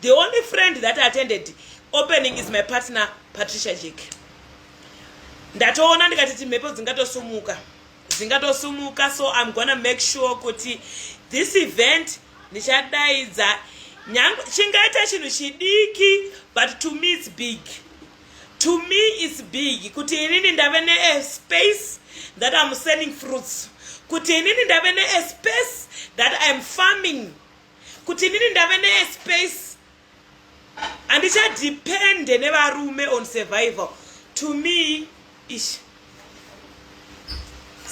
The only friend that attended opening is my partner Patricia Jake. Ndatoona ndikati timhepo dzingatosumuka. Dzingatosumuka so I'm gonna make sure kuti this event ndichadaidza nyangwe chingaita chinhu chidiki but to me it's big. To me it's big kuti inini ndave ne eh, space that I'm selling fruits. Kuti inini ndave ne eh, space that I'm farming kuti inini ndave nespace handichadepende nevarume on survival to me ish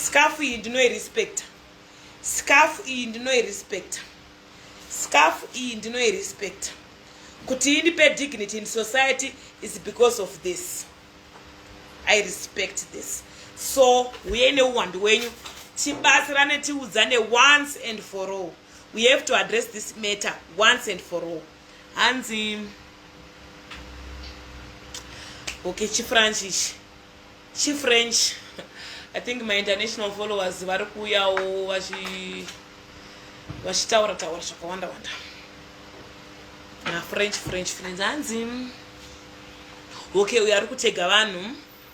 skafu iyi ndinoirespecta skafu iyi ndinoirespecta skafu iyi ndinoirespecta kuti ini pe dignity in society is because of this i respect this so huye neuwandu wenyu tibatsirane tiudzane once and for all we have to address this matter once and for all hanzi okay chifrench ichi chifrench i think my international followers vari kuuyawo vachitaura taura zvakawanda wanda na french french french hanzi okay uyo ari kutega vanhu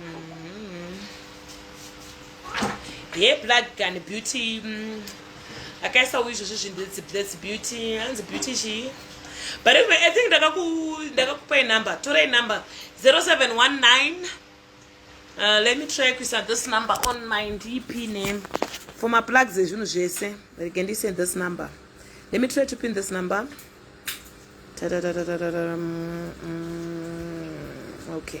mm-hmm. ye black gun beauty mm, akaisa uyu izvozvo zvinhu its beauty hanzi beauty chii but anyway, i think ndakakupai number torai number 0719 uh, let me try kuisa this number on my ndp name for maplugs ezvinhu zvese rege ndise this number let me try to pin this number okay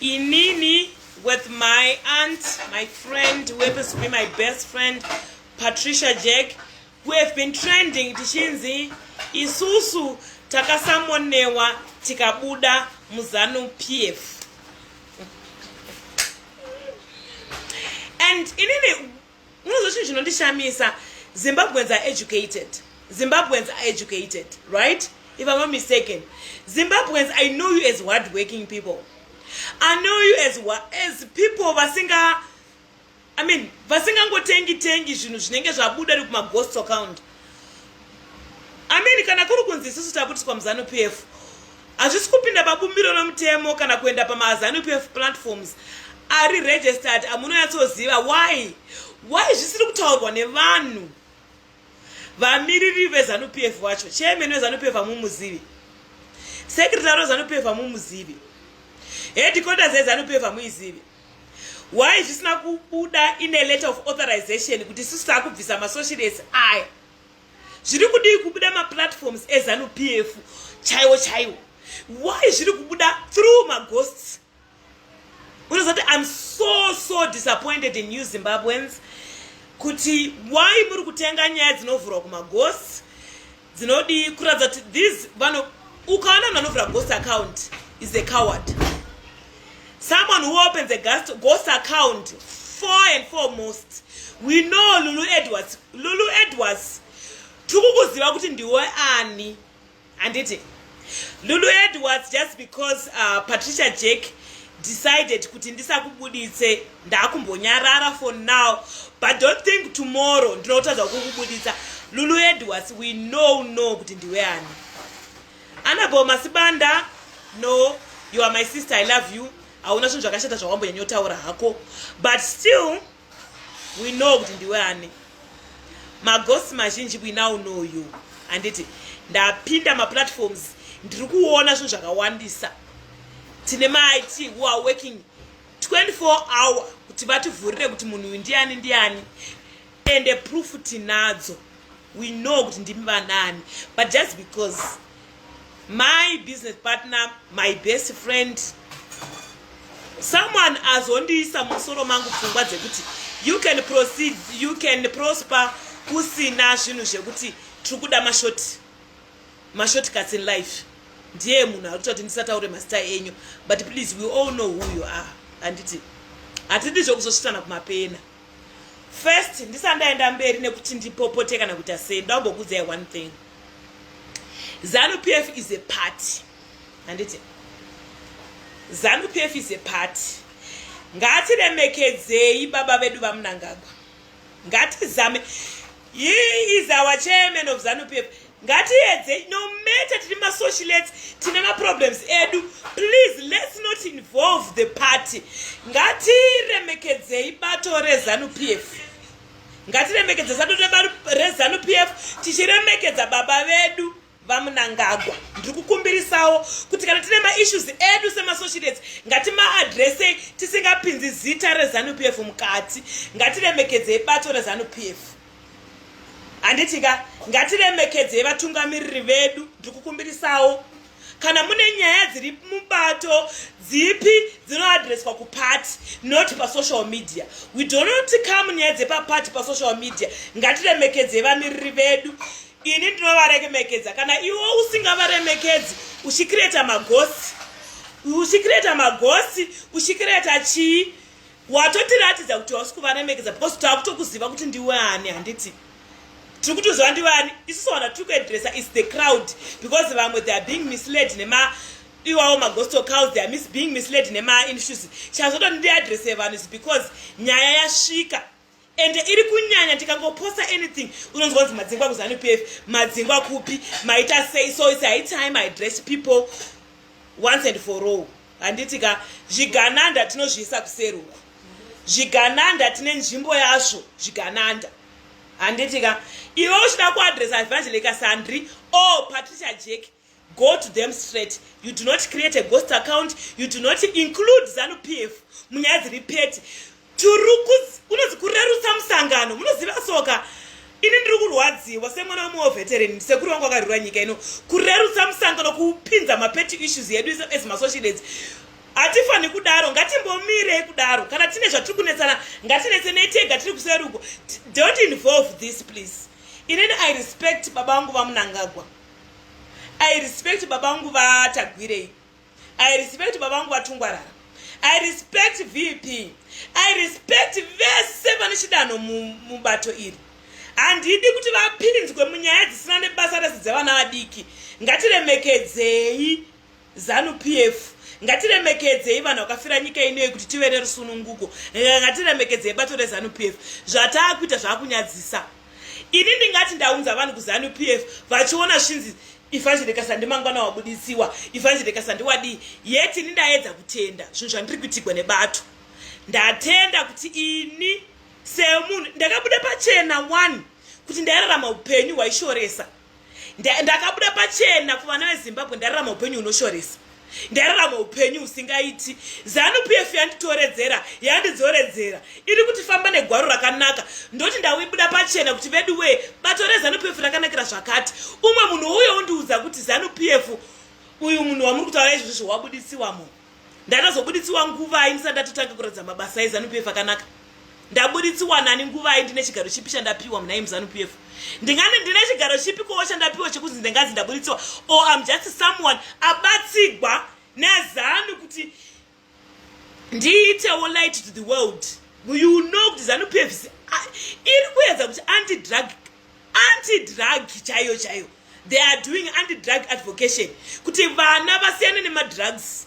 inini with my aunt my friend who happens to be my best friend patricia jack who have been trending tichinzi isusu takasamonewa tikabuda muzanu pf and inini Unozwa chinhu chinondishamisa Zimbabweans are educated. Zimbabweans are educated, right? If I'm not mistaken. Zimbabweans, I know you as hardworking people. I know you as as people vasinga I mean, vasingangotengi tengi zvinhu zvinenge zvabuda ri kuma ghost account. ameni kana kuri kunzi isusu tabutiswa muzanu p f hazvisi kupinda pabumbiro romutemo kana kuenda pamazanu p f platforms ari registered amunonyatsoziva why why zvisiri kutaurwa nevanhu vamiriri vezanu p f wacho chairman wezanu p f amumuzivi sekretary wezanu p f amumuzivi headquarters yezanu p f amuizivi why zvisina kubuda ine letter of authorization kuti sisi takubvisa masocial ese aya zviri kudii kubuda maplatforms ezanu p f chaiwo chaiwo why zviri kubuda through maghosts unozati im so so disappointed in new zimbabweans kuti why muri kutenga nyaya dzinovhurwa kumaghosts dzinodii kuratidza kuti these vano ukaona munhu anovhura ghost account is a coward someone who opens a ghost, ghost account four and foremost we know lulu edwards lulu edwards tikukuziva kuti ndiwe ani handiti Lulu Edwards just because uh, Patricia Jack decided kuti ndisakubuditse ndakumbonyarara for now but don't think tomorrow ndinotadza kukubuditsa Lulu Edwards we know know kuti ndiwe ani Annabelle Masibanda no you are my sister I love you hauna zvinhu zvakashata zvawambo nyanyotaura hako but still we know kuti ndiwe ani magosi mazhinji we now know you handiti ndapinda maplatforms ndiri kuona zvinhu zvakawandisa tine mait who are working 24 hour kuti vativhurire kuti munhu uyu ndiani ndiani ende proof tinadzo we know kuti ndimi vanani but just because my business partner my best friend someone azondiisa musoro mangu pfungwa dzekuti you can proceed you can prosper kusina zvinhu zvekuti tiri kuda mashort mashort cuts in life ndiye munhu arikuta kuti ndisataure mazita enyu but please we all know who you are handiti hatidi zvekuzosvitsana kumapena first ndisandaenda mberi nekuti ndipopote kana kuita sei ndaumbokudzayi one thing zanu p f is a party handiti zanu p f is a party ngatiremekedzei baba vedu vamunangagwa ngatizame He is our chairman of Zanu PF. Ngatiedze no matter tiri ma socialites tine ma problems edu. Please let's not involve the party. Ngatiremekedzei bato reZanu PF. Ngatiremekedze bato reZanu PF tichiremekedza baba vedu. vamunangagwa ndiri kukumbirisawo kuti kana tine maissues edu semasociates ngatimaadressei tisingapinzi zita rezanu p f mukati ngatiremekedzei bato rezanu p f handiti ka ngatiremekedzei vatungamiriri vedu ndiri kukumbirisawo kana mune nyaya dziri mubato dzipi dzinoadreswa kupati not pasocial media we donot come nyaya dzepapati pasocial media ngatiremekedzei vamiriri vedu ini ndinovaremekedza kana iwe usingavaremekedzi uchikireta magosi uchikireta magosi uchikireta chii watotiratidza kuti hausi kuvaremekedza because taakutokuziva kuti ndiwe ani handiti tiri kutoziva ndiwe ani isusu vana tiri kuedresa is the crowd because vamwe they are being misled nema iwawo magosto cows they are mis being misled nemainstitution chazotondidi adrese vanhu is because nyaya yasvika ende iri kunyanya tikangoposta anything unonzwa kunzi madzingwa kuzanu p f madzingwa kupi maita sei so its high time i dress people once and for all handiti ka zvigananda tinozviisa kuseri uku zvigananda tine nzvimbo yazvo zvigananda handiti ka iwe uchida kuadresa evangelika sandri o patricia jeki Go to them straight. You do not create a ghost account. You do not include Zanu PF. Munyaya dziri peti. Turukus unozi kurerutsa musangano. Munoziva soka. Ini ndiri kurwadziwa semwana wemwe weveteran sekuru wangu akarwira nyika ino. Kurerutsa musangano kupinza mapeti issues yedu as masocialites. Hatifani kudaro ngatimbomirei kudaro kana tine zvatiri kunetsana ngatinetsenei tega tiri kuseruko. Don't involve this please. Inini I respect baba vangu vamunangagwa. i respect baba vangu vatagwirei i respect baba vangu vatungwarara i respect vp i respect vese vane chidanho mubato iri handidi kuti vapinzwe munyaya dzisina nebasa rese dzevana vadiki ngatiremekedzei Zanu PF ngatiremekedzei vanhu vakafira nyika inoyi kuti tive nerusununguko ngatiremekedzei bato rezanu PF zvataakuita zvakunyadzisa ini ndingati ndaunza vanhu kuzanu PF vachiona svinzi ifanjirika sandi mangwana wabudisiwa ifanjirika sandi wadii yet ini ndaedza kutenda zvinhu zvandiri kuitigwa nebato ndatenda kuti ini semunhu ndakabuda pachena one kuti ndairarama upenyu hwaishoresa ndakabuda pachena kuvana vezimbabwe ndararama upenyu hunoshoresa ndararama upenyu husingaiti zanu p f yanditoredzera yandidzoredzera iri kuti famba negwaro rakanaka ndoti ndawibuda pachena kuti vedu wee bato rezanu p f rakanakira zvakati umwe munhu uye undiudza kuti zanu p f uyu munhu wamuri kutaura izvozvo wabudisiwa munhu ndakazobuditsiwa nguvai ndisati ndatotange kuratidza mabasa ezanup f akanaka ndabuditsiwa nani nguvai ndine chigaro chipi chandapiwa munai muzanup f ndingani ndine chigaro chipi kowo chandapiwa chekunzi ndinganzi ndabuditsiwa or am just someone abatsigwa nezanu kuti ndiitewo light to the world you know kuti zanup f iri kuedza kuti andidrag anti drug chaiyo chaiyo they are doing anti drug advocation kuti vana vasiyane nemadrugs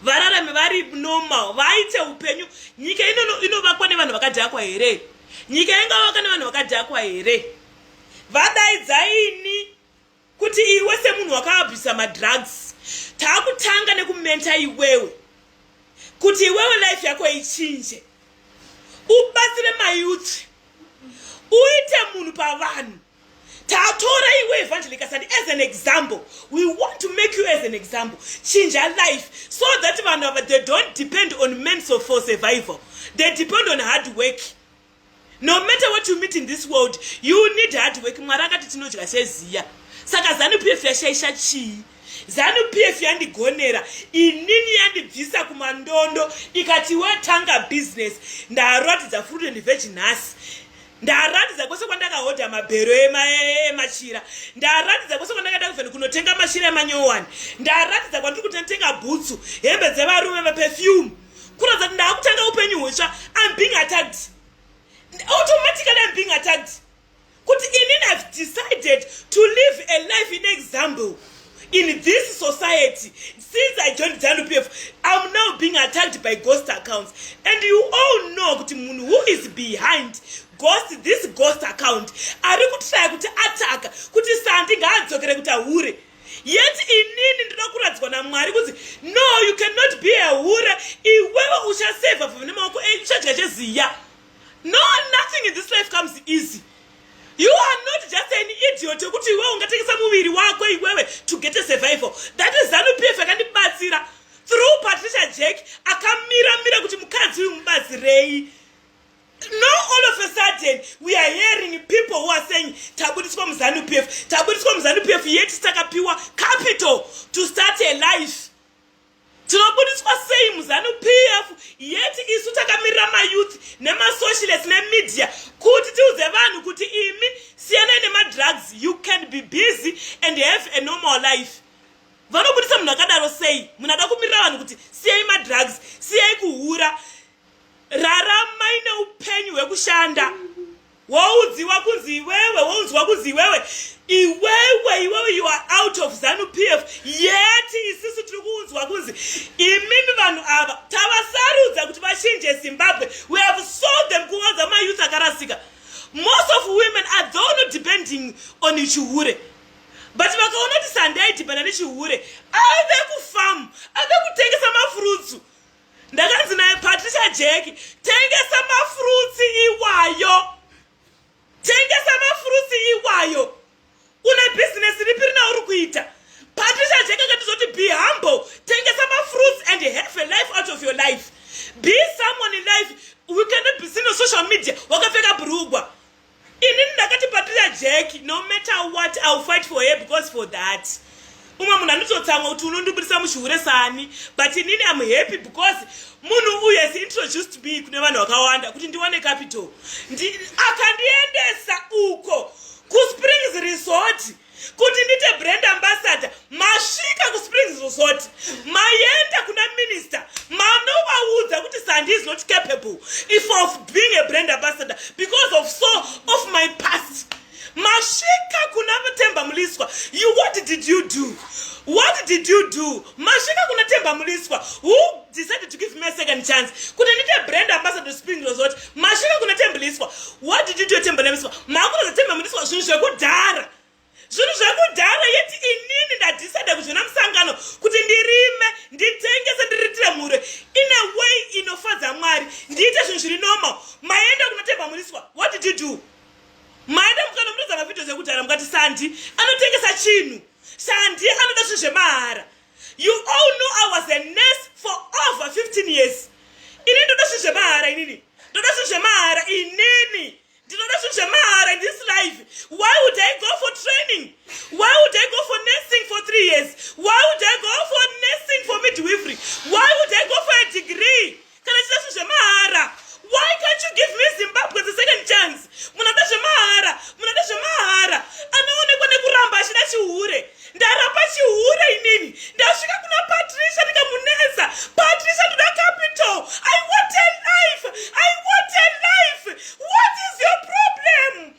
vararame vari normal vaite upenyu nyika inono inovakwa nevanhu vakadhakwa here nyika ingavaka nevanhu vakadhakwa here vadaidzai ini kuti iwe semunhu wakaabhisa madrugs taakutanga nekumenta iwewe kuti iwewe life yako ichinje ubatsire mayuthi uite munhu pavanhu tatora iwe evangelikasani as an example we want to make you as an example chinja life so that vanhu ava they don't depend on menso for survival they depend on hard work no matter what you meet in this world you need hard work mwari akati tinodya seziya saka zanu pf yashaisha chii zanu pf yandigonera inini yandibvisa kumandondo ikati watanga business ndaratidza fruit and vegi nhasi ndaratidza kwese kwandakahodha mabhero emachira ndaratidza kwese kwandakaenda kuvheni kunotenga machira emanyowani ndaratidza kwandiri kutenga bhutsu hembe dzevarume maperfume kuratidza kuti ndaakutanga upenyu hutsva im being attacked automatically im being attacked kuti inini have decided to live a life in example in this society since i joined zanu p f im now being attacked by ghost accounts and you all know kuti munhu who is behind ghost this ghost account ari kutraya kuti ataka kuti sandi ngaadzokere kuti ahure yet inini ndoda kuradzwa namwari kunzi no you cannot be a hure iwewe uchaseva vhumi nemaoko enyu eh, uchadya cheziya no nothing in this life comes easy you are not just an idiot yekuti iwewe ungatengesa muviri wako iwewe to get a survival that is zanu pf akandibatsira through patricia jack akamira mira kuti mukadzi uyu mubatsirei No all of a sudden we are hearing people who are saying tabudiswa muzanu PF tabudiswa muzanu PF yet takapiwa capital to start a life tinobudiswa sei muzanu PF yet isu takamirira mayouth nemasocialist nemedia kuti tiudze vanhu kuti imi siyanai nemadrugs you can be busy and have a normal life vanobudisa munhu akadaro sei munhu ada kumirira vanhu kuti siyai madrugs siyai kuhura raramai neupenyu hwekushanda woudziwa kunzi iwewe woudzwa kunzi iwewe iwewe iwewe you are out of zanu p f yeti isisu tiri kuudzwa kunzi imimi vanhu ava tavasarudza kuti vachinje zimbabwe we have sold them kuwanza mayouth akarasika most of women are thono depending on chihure but vakaona kuti sandaidhibhana nechihure ave kufamu ave kutengesa mafurutsu ndakanzi naye patricia jack tengesa mafurutsi iwayo tengesa mafurutsi iwayo une bhizinesi ripi rina uri kuita patricia jack akatizoti be humble tengesa mafurutsi and have a life out of your life be someone in life we cannot be seen on social media wakapfeka brugwa inini ndakati patira jack no matter what ill fight for her because for that umwe munhu anototsamwa kuti unondibudisa muchihure sani but inini am happy because munhu uyu has introduced me kune vanhu vakawanda kuti ndiwane capital akandiendesa uko kuspring kuti ndite brand ambassador masvika kusprings resort maenda kuna minister manovaudza kuti sandi is not capable if of being a brand ambassador because of so of my past masvika kuna mutemba muliswa you what did you do what did you do masvika kuna temba muliswa who decided to give me a second chance kuti ndite brand ambassador spring resort masvika kuna temba liswa what did you do temba liswa makutoza temba muliswa zvinhu zvekudhara zvinhu zvekudhara yeti inini ndadecide kuzvina musangano kuti ndirime nditengese ndiriitire mhuri in a way inofadza mwari ndiite zvinhu zviri normal maenda kuna temba muliswa what did you do maenda mukanomutoza mavhidhios ekudhara mukati sandi anotengesa chinhu Sandi anoda zvinhu zvemahara. You all know I was a nurse for over 15 years. Ini ndoda zvinhu zvemahara inini. Ndoda zvinhu zvemahara inini. Ndinoda zvinhu zvemahara in this life. Why would I go for training? Why would I go for nursing for three years? Why would I go for nursing for midwifery? Why would I go for a degree? kana chida zvinhu zvemahara why can't you give me zimbabwe the second chance munoda zvemahara munoda zvemahara anoonekwa nekuramba achida chihure ndarapa chihure inini ndasvika kuna patricia ndikamunetsa patricia ndoda capital i want a life i want a life what is your problem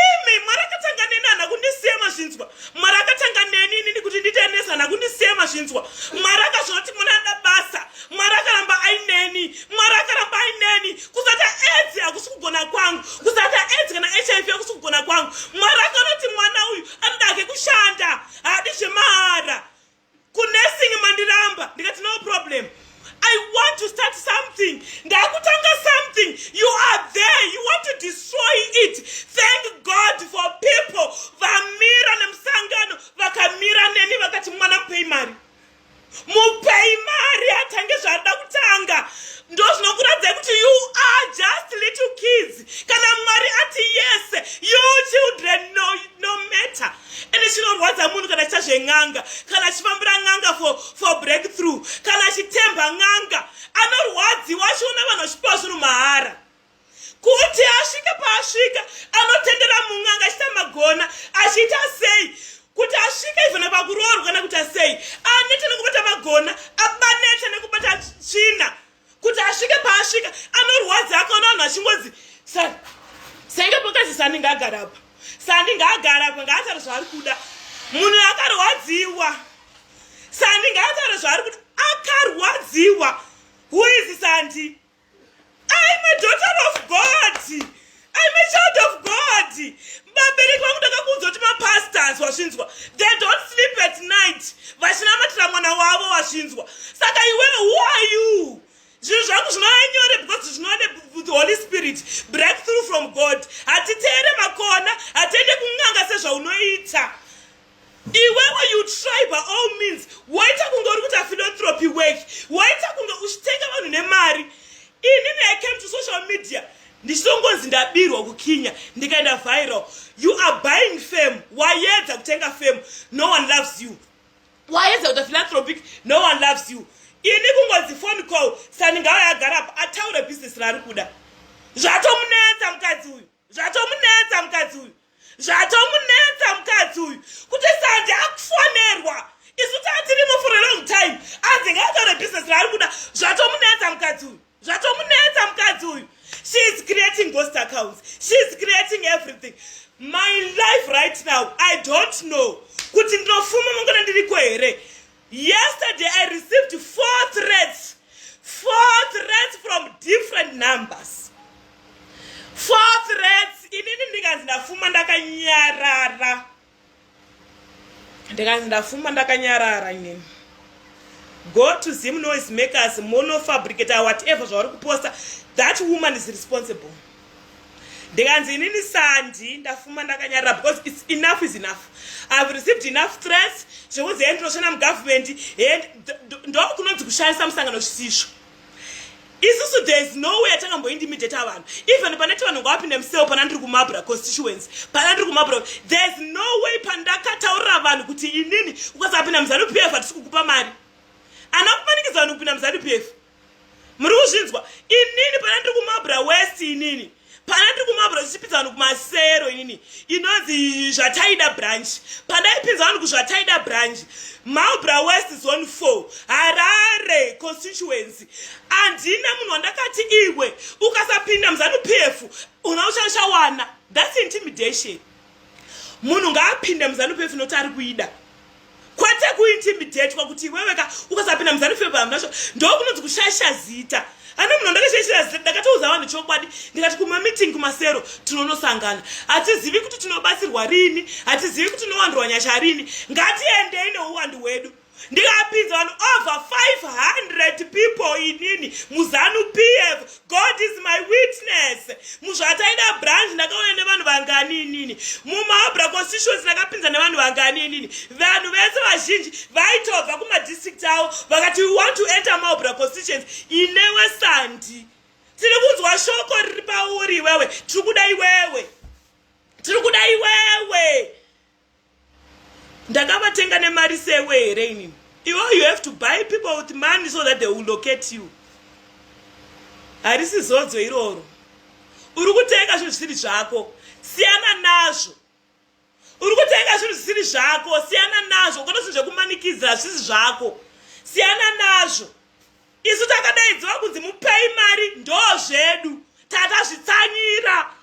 imi mwari akatanga neni hana kundisiya mazvinzwa mwari akatanga neni inini kuti nditenesa hana kundisiya mazvinzwa mwari akazvona kuti munada basa mwari akaramba aineni mwari akaramba aineni kusata edzi hakusi kugona kwangu kusata edzi kana hiv hakusi kugona kwangu mwari akanoti mwana uyu anodake kushanda haadi zvemahara kunursing mandiramba ndikati no problem i want to start something ndakutanga something you are there you want to destroy it thank god for people vamira nemusangano vakamira neni vakati mwana mupei mari mupei mari atange zvaada kutanga ndozvinokuradzai kuti you are just little kids kana mwari ati yese you children no, no matter ende chinorwadza munhu kana chita zven'anga kana achifambira n'anga for, for breakthrough kana achitemba n'anga anorwadziwa achiona vanhu vachipiwa zvinhu mahara kuti asvike paasvika anotendera mun'anga achita magona achiita sei kuti asvike ivana pakuroorwa kana kuti asei aneta nekubata magona abaneta nekubata tsvina kuti asvike paasvika anorwadzi akaona vanhu vachingozi sani senge pokazi sani ngaagara apa sani ngaagara apa ngaatare zvaari kuda munhu akarwadziwa sani ngaatare zvaari kuda akarwadziwa who is sandi ai madaughter of god I'm a child of God. Vabereki vangu ndakakuudza kuti mapastors wazvinzwa. They don't sleep at night. Vachinamatira mwana wavo wazvinzwa. Saka iwe who are you? Zvinhu zvangu zvinova nyore because zvinova the Holy Spirit. Breakthrough from God. Hatiteere makona, hatiende kun'anga sezvaunoita. iwewe you try by all means waita kunge uri kuita philanthropy work waita kunge uchitenga vanhu nemari inini i came to social media ndichinongonzi ndabirwa kukinya ndikaenda viral you are buying fame wayedza kutenga fame no one loves you wayedza kuita philanthropic no one loves you ini kungonzi phone call sani ngayo yagara apa ataure business raari kuda zvatomunetsa mukadzi uyu zvatomunetsa mukadzi uyu zvatomunetsa mukadzi uyu kuti sandi akufonerwa isu taa tiri mufure long time anzi ngaatore business raari kuda zvatomunetsa mukadzi uyu zvatomunetsa mukadzi uyu she is creating ghost accounts she is creating everything my life right now i don't know kuti ndinofuma mangona ndiriko here Yesterday I received four threats. Four threats from different numbers. Four threats. Inini ndikanzi ndafuma ndakanyarara. Ndikanzi ndafuma ndakanyarara inini. Go to Zim noise makers, mono fabricator, whatever zvauri kuposta. That woman is responsible. ndikanzi inini sandi ndafuma ndakanyarira because its enough is enough ihave received enough stress zvekuzi he ndinoshanda mugovernment he ndokunonzi kushandisa musangano zvisizvo isusu there is no way yatangamboindimidheta vanhu even paneti vanhu ngawapinde museo pana ndiri kumabra constituency pana ndiri kumabra there is no way pandakataurira vanhu kuti inini ukasapinda muzanu p f hatisi kukupa mari ana kumanikidza vanhu kupinda muzanu p f muri kuzvinzwa inini pana ndiri kumabra west inini pana ndiri kumabra zvichipinza vanhu kumasero inini inonzi zvataida branch pandaipinza vanhu kuzvataida branch malbra west zone four harare constituency handina munhu wandakati iwe ukasapinda muzanu p f una uchachawana thats intimidation munhu ngaapinde muzanu p f noti ari kuida kwete kuintimidatwa kuti iweweka ukasapinda muzanu feva hamnasho ndokunonzi kushaisha zita ana munhu ndakashaishira zita ndakatouza vanhu chokwadi ndikati kumameeting kumasero tinonosangana hatizivi kuti tinobatsirwa rini hatizivi kuti tinowandirwa nyasha rini ngatiendei neuwandu hwedu ndikapinza vanhu over 500 people inini muzanu pf God is my witness muzvataida branch ndakaona nevanhu vangani inini mumaobra constituency ndakapinza nevanhu vangani inini vanhu vese vazhinji vaitobva kumadistrict avo vakati we want to enter maobra constituency inewe sandi tiri kunzwa shoko riri pauri iwewe tiri kuda iwewe tiri kuda iwewe ndakavatenga nemari sewe here inini iwo you have to buy people with money so that they will locate you harisi zodzo iroro uri kutenga zvinhu zvisiri zvako siyana nazvo uri kutenga zvinhu zvisiri zvako siyana nazvo ukona zvinhu zvekumanikidzira hazvisi zvako siyana nazvo isu takadaidziwa kunzi mupei mari ndo zvedu tatazvitsanyira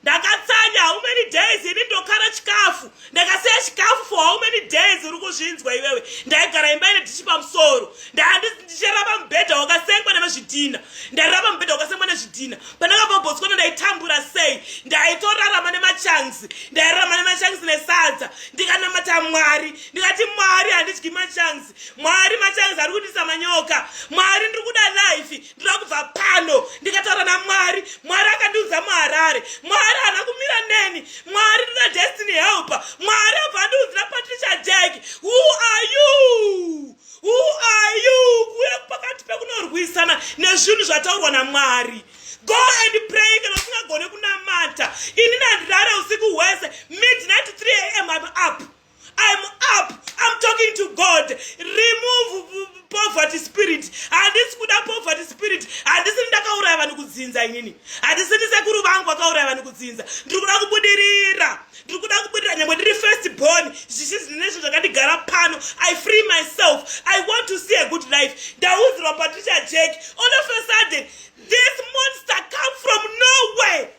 ndakatsanya how many days ini ndokara chikafu ndakasiya chikafu for how many days uri kuzvinzwa iwewe ndaigara imba ine dhichi pamusoro ndicharava mubhedha wakasengwa nevezvidhina ndairava mubhedha wakasengwa nezvidhina pandakababhotswana ndaitambura sei ndaitorarama nemachanzi ndairarama nemachanzi nesadza ndikanamata mwari ndikati mwari handidyi machanzi mwari machanzi ari kundisa manyoka mwari ndiri kuda life ndoda kubva pano ndikataura namwari mwari akandiudza muharare mwari haana kumira neni mwari ndoda destiny helper mwari abva andiudzira patricia jack who are you who are you kuuya pakati pekunorwisana nezvinhu zvataurwa namwari go and pray kana usingagone kunamata ini nandirare usiku hwese midnight 3 am up I'm up. I'm talking to God. Remove poverty spirit. Handisi kuda poverty spirit. Handisi ndakauraya vanhu kudzinza inini. Handisi ndisekuru vangu vakauraya vanhu kudzinza. Ndiri kuda kubudirira. Ndiri kuda kubudirira nyangwe ndiri first born. Zvichizi nezvo zvakandigara pano. I free myself. I want to see a good life. Ndauzirwa Patricia Jack. All of a sudden, this monster come from nowhere.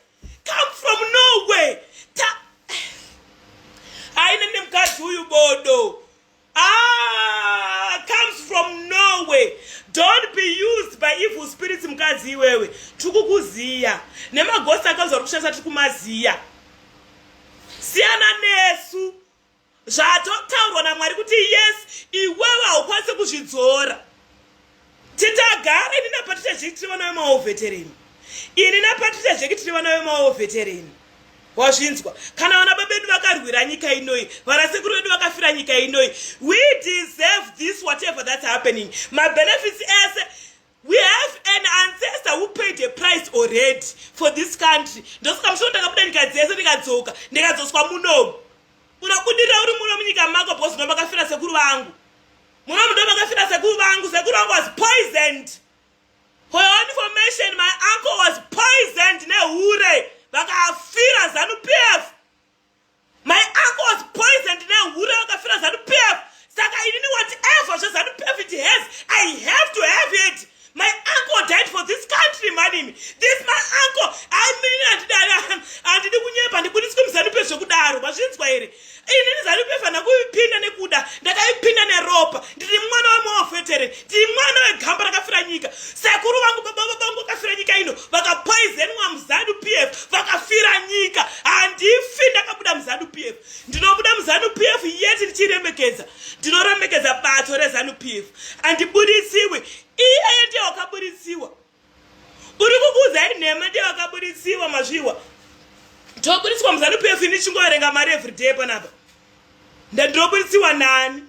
come from nowhere ta haine nemukadzi uyu bodo ah, comes from nowhere don't be used by evil spirits mukadzi iwewe tiri kukuziya nemagosi akanzwa ri kushandisa tiri kumaziya siyana nesu zvatotaurwa namwari kuti yes iwewe haukwanise kuzvidzora titagara ini napatricia jeki tiri vana vemaovetereni ini napatricia jeki tiri vana vemaovetereni wazvinzwa kana vana babedu vakarwira nyika inoi vanasekuru vedu vakafira nyika inoi we deserve this whatever that's happening mabenefits ese We have an ancestor who paid a price already for this country. Ndosaka musoro ndakabuda nyika dzese ndikadzoka ndikadzoswa muno. Unobudirira uri muno munyika mako because ndo makafira sekuru vangu. Muno ndo makafira sekuru vangu. Sekuru vangu was poisoned. For your information, my uncle was poisoned nehure vakafira Zanu PF. My uncle was poisoned nehure vakafira zanu PF. Saka inini whatever zvezanu PF it has, I have to have it. My uncle died for this country manimi. This my uncle. I mean handidari handidi kunyepa ndibudiswe muzanu PF zvekudaro. Mazvinzwa here? Inini zanu PF handakupinda nekuda. Ndakaipinda neropa. Ndiri mwana wemawafetere. ndimwana wegamba rakafira nyika sekuru vangu baba vabangu vakafira nyika ino vakapoizenwa muzanu p f vakafira nyika handifi ndakabuda muzanu p f ndinobuda muzanu p f yeti ndichiremekedza ndinoremekedza bato rezanu p f andibuditsiwi iyeye ndiye wakabuditsiwa uri kukuudzai nhema ndiye wakabuditsiwa mazviwa tobuditswa muzanu p f ini chingoverenga mari everyday panapa ndandinobuditsiwa nani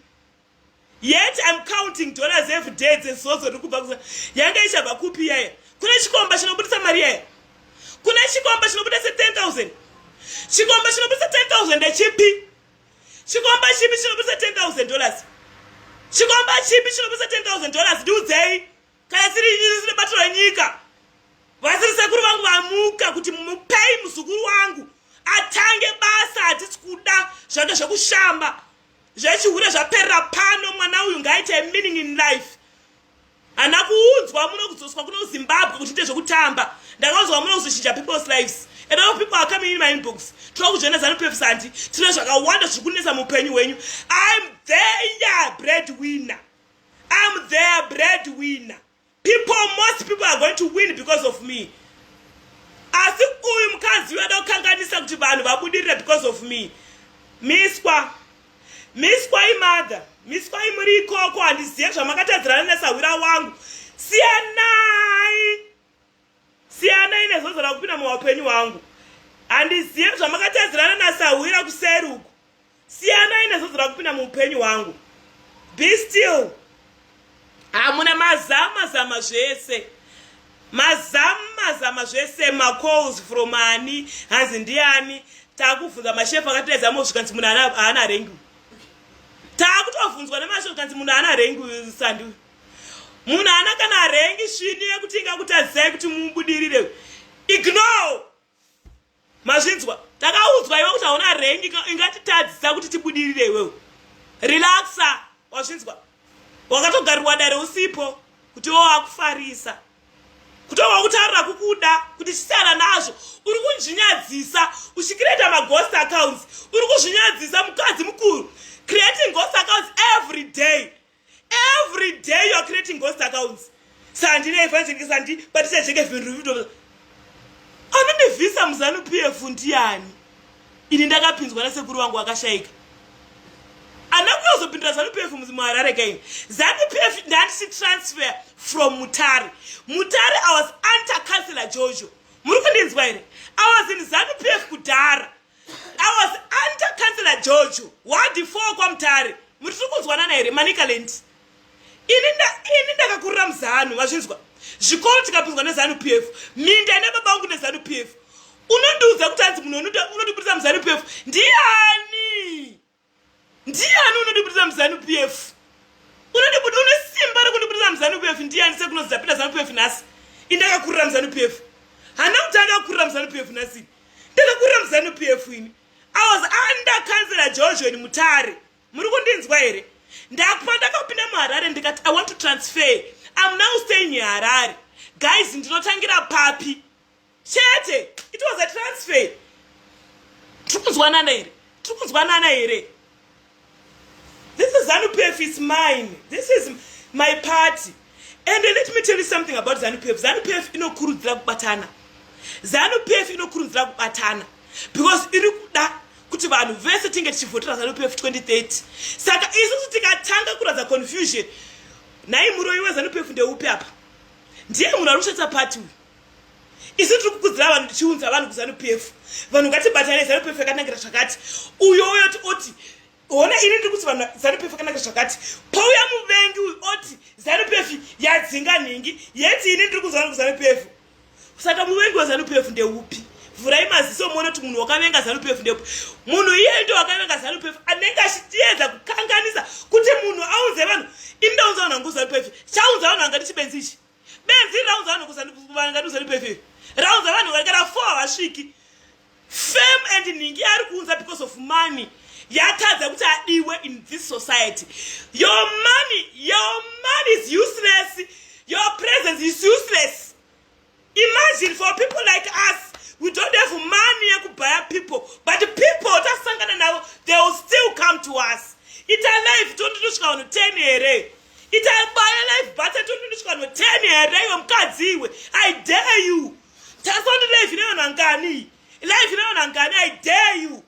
yet im counting dollars every day dzezozo riri kubva kuza yanga ichabva kupi yaya kune chikomba chinobudisa mari yaya kune chikomba chinobudisa 10000 chikomba chinobudisa 10000 ndechipi chikomba chipi chinobudisa 10000 dollars chikomba chipi chinobudisa 10000 dollars ndiudzei kana siri ini sine bato renyika vasiri sekuru vangu vamuka kuti mupei muzukuru wangu atange basa hatisi kuda zvake zvekushamba Zvechihure zvaperera pano mwana uyu ngaite a meaning in life. Hana kuudzwa muno kudzoswa kuno Zimbabwe kuti ite zvekutamba. Ndakaudzwa muno kuzochinja people's lives. And all people are coming in my inbox. Tiri kuzviona zanu pefsandi. Tine zvakawanda zviri kunetsa mupenyu hwenyu. I'm there breadwinner. I'm there breadwinner. people most people are going to win because of me asi uyu mukadzi uyu ada kukanganisa kuti vanhu vabudirira because of me miswa miswa imother miswa imuri ikoko handizive zvamakatadzirana nesahwira wangu siyanai siyanai nezozo rakupinda muwapenyu wangu handizive zvamakatadzirana nasahwira kuseri uku siyanai nezozo rakupinda muupenyu hwangu be still hamuna mazama zama zvese mazamu mazama zvese macalls from ani hanzi ndiani takuvhunza mashefu akatedza mo zvikanzi munhu haana rengi takutobvunzwa nemashefu kanzi munhu haana rengi sandiwe munhu haana kana harengi svini yekuti ingakutadzisai kuti mubudirire ignore mazvinzwa takaudzwa iwe kuti hauna rengi ingatitadzisa kuti tibudirire iwewe relaxa wazvinzwa wakatogarirwa dare usipo kuti wo akufarisa kutova kutaurira kukuda kuti chisiyana nazvo uri kunzvinyadzisa uchicreata maghost accounts uri kuzvinyadzisa mukadzi mukuru creating ghost accounts every day Every day you are creating ghost accounts. Sandi ne evangelike sandi batisa jeke vinhu vido. Anone visa muzanu PF ndiyani. Ini ndakapinzwa na sekuru wangu akashaika. Anakuzopindira zanu PF muzimu harare kai. Zanu PF ndati si transfer from Mutare. Mutare I was under councillor Jojo. Muri kundinzwa here? I was in zanu PF kudara. I was under councillor George wadi 4 kwaMutare muri tiri kunzwanana here Manicaland ini nda ini ndakakurira muzanu mazvinzwa zvikoro tikapinzwa nezanu PF minda ina baba vangu nezanu PF unondiudza kuti hanzi munhu unotibudisa muzanu PF ndiani ndiani unondibudira muzanu pf unondibudi une simba rekundibudira muzanu pf ndiani sekuti unodzapinda zanu pf nhasi indakakurira muzanu pf hana kuti andakurira muzanu pf nhasi ndakakurira muzanu pf ini awas under councilor georgion mutare muri kundinzwa here ndakupa ndakapinda muharare ndikati i want to transfer am now staying harare guys ndinotangira papi chete it was a transfer tiri kunzwanana here tiri kunzwanana here this is zanupf is mine this is my party and let me tell you something about zanupf zanupf inokurudzira kubatana zanupf inokurudzira kubatana because iri kuda kuti vanhu vese tinge tichivhotera zanupf 2030 saka isusu tikatanga kuratidza confusion nhai muroi wezanupf ndeupi apa ndiye munhu ari kushatsa pati uyu isu tiri kukudzira vanhu tichiunza vanhu kuzanu p f vanhu ngatibatanei zanu p f yakanangira zvakati uyo uyo ti oti hona ini ndiri kuti vanhu zanu p f yakanangira zvakati pouya muvengi uyu oti zanu p f yadzinga nhingi yeti ini ndiri kunzwa vanhu kuzanu p f saka muvengi wezanu p f ndeupi vhurai maziso muone kuti munhu wakavenga zanu p f ndeupi munhu iyeye ndo wakavenga zanu p f anenge achitiedza kukanganisa kuti munhu aunze vanhu ini ndaunza vanhu hangu zanu p f chaunza vanhu hanga ndichibenzi ichi benzi raunza vanhu kusandivanganisa ndipefe raunza vanhu vaigara four havasviki fame and nhingi ari kuunza because of money yatadza kuti adiwe in this society your money your money is useless your presence is useless imagine for people like us we don't have money yekubaya people but people tasangana navo they will still come to us ita life tonditosvika vanhu 10 here itai baya life bata tondinochikano 10 here iwe mukadzi iwe i dare you tasondi life ineyona ngani life ineyona ngani i dare you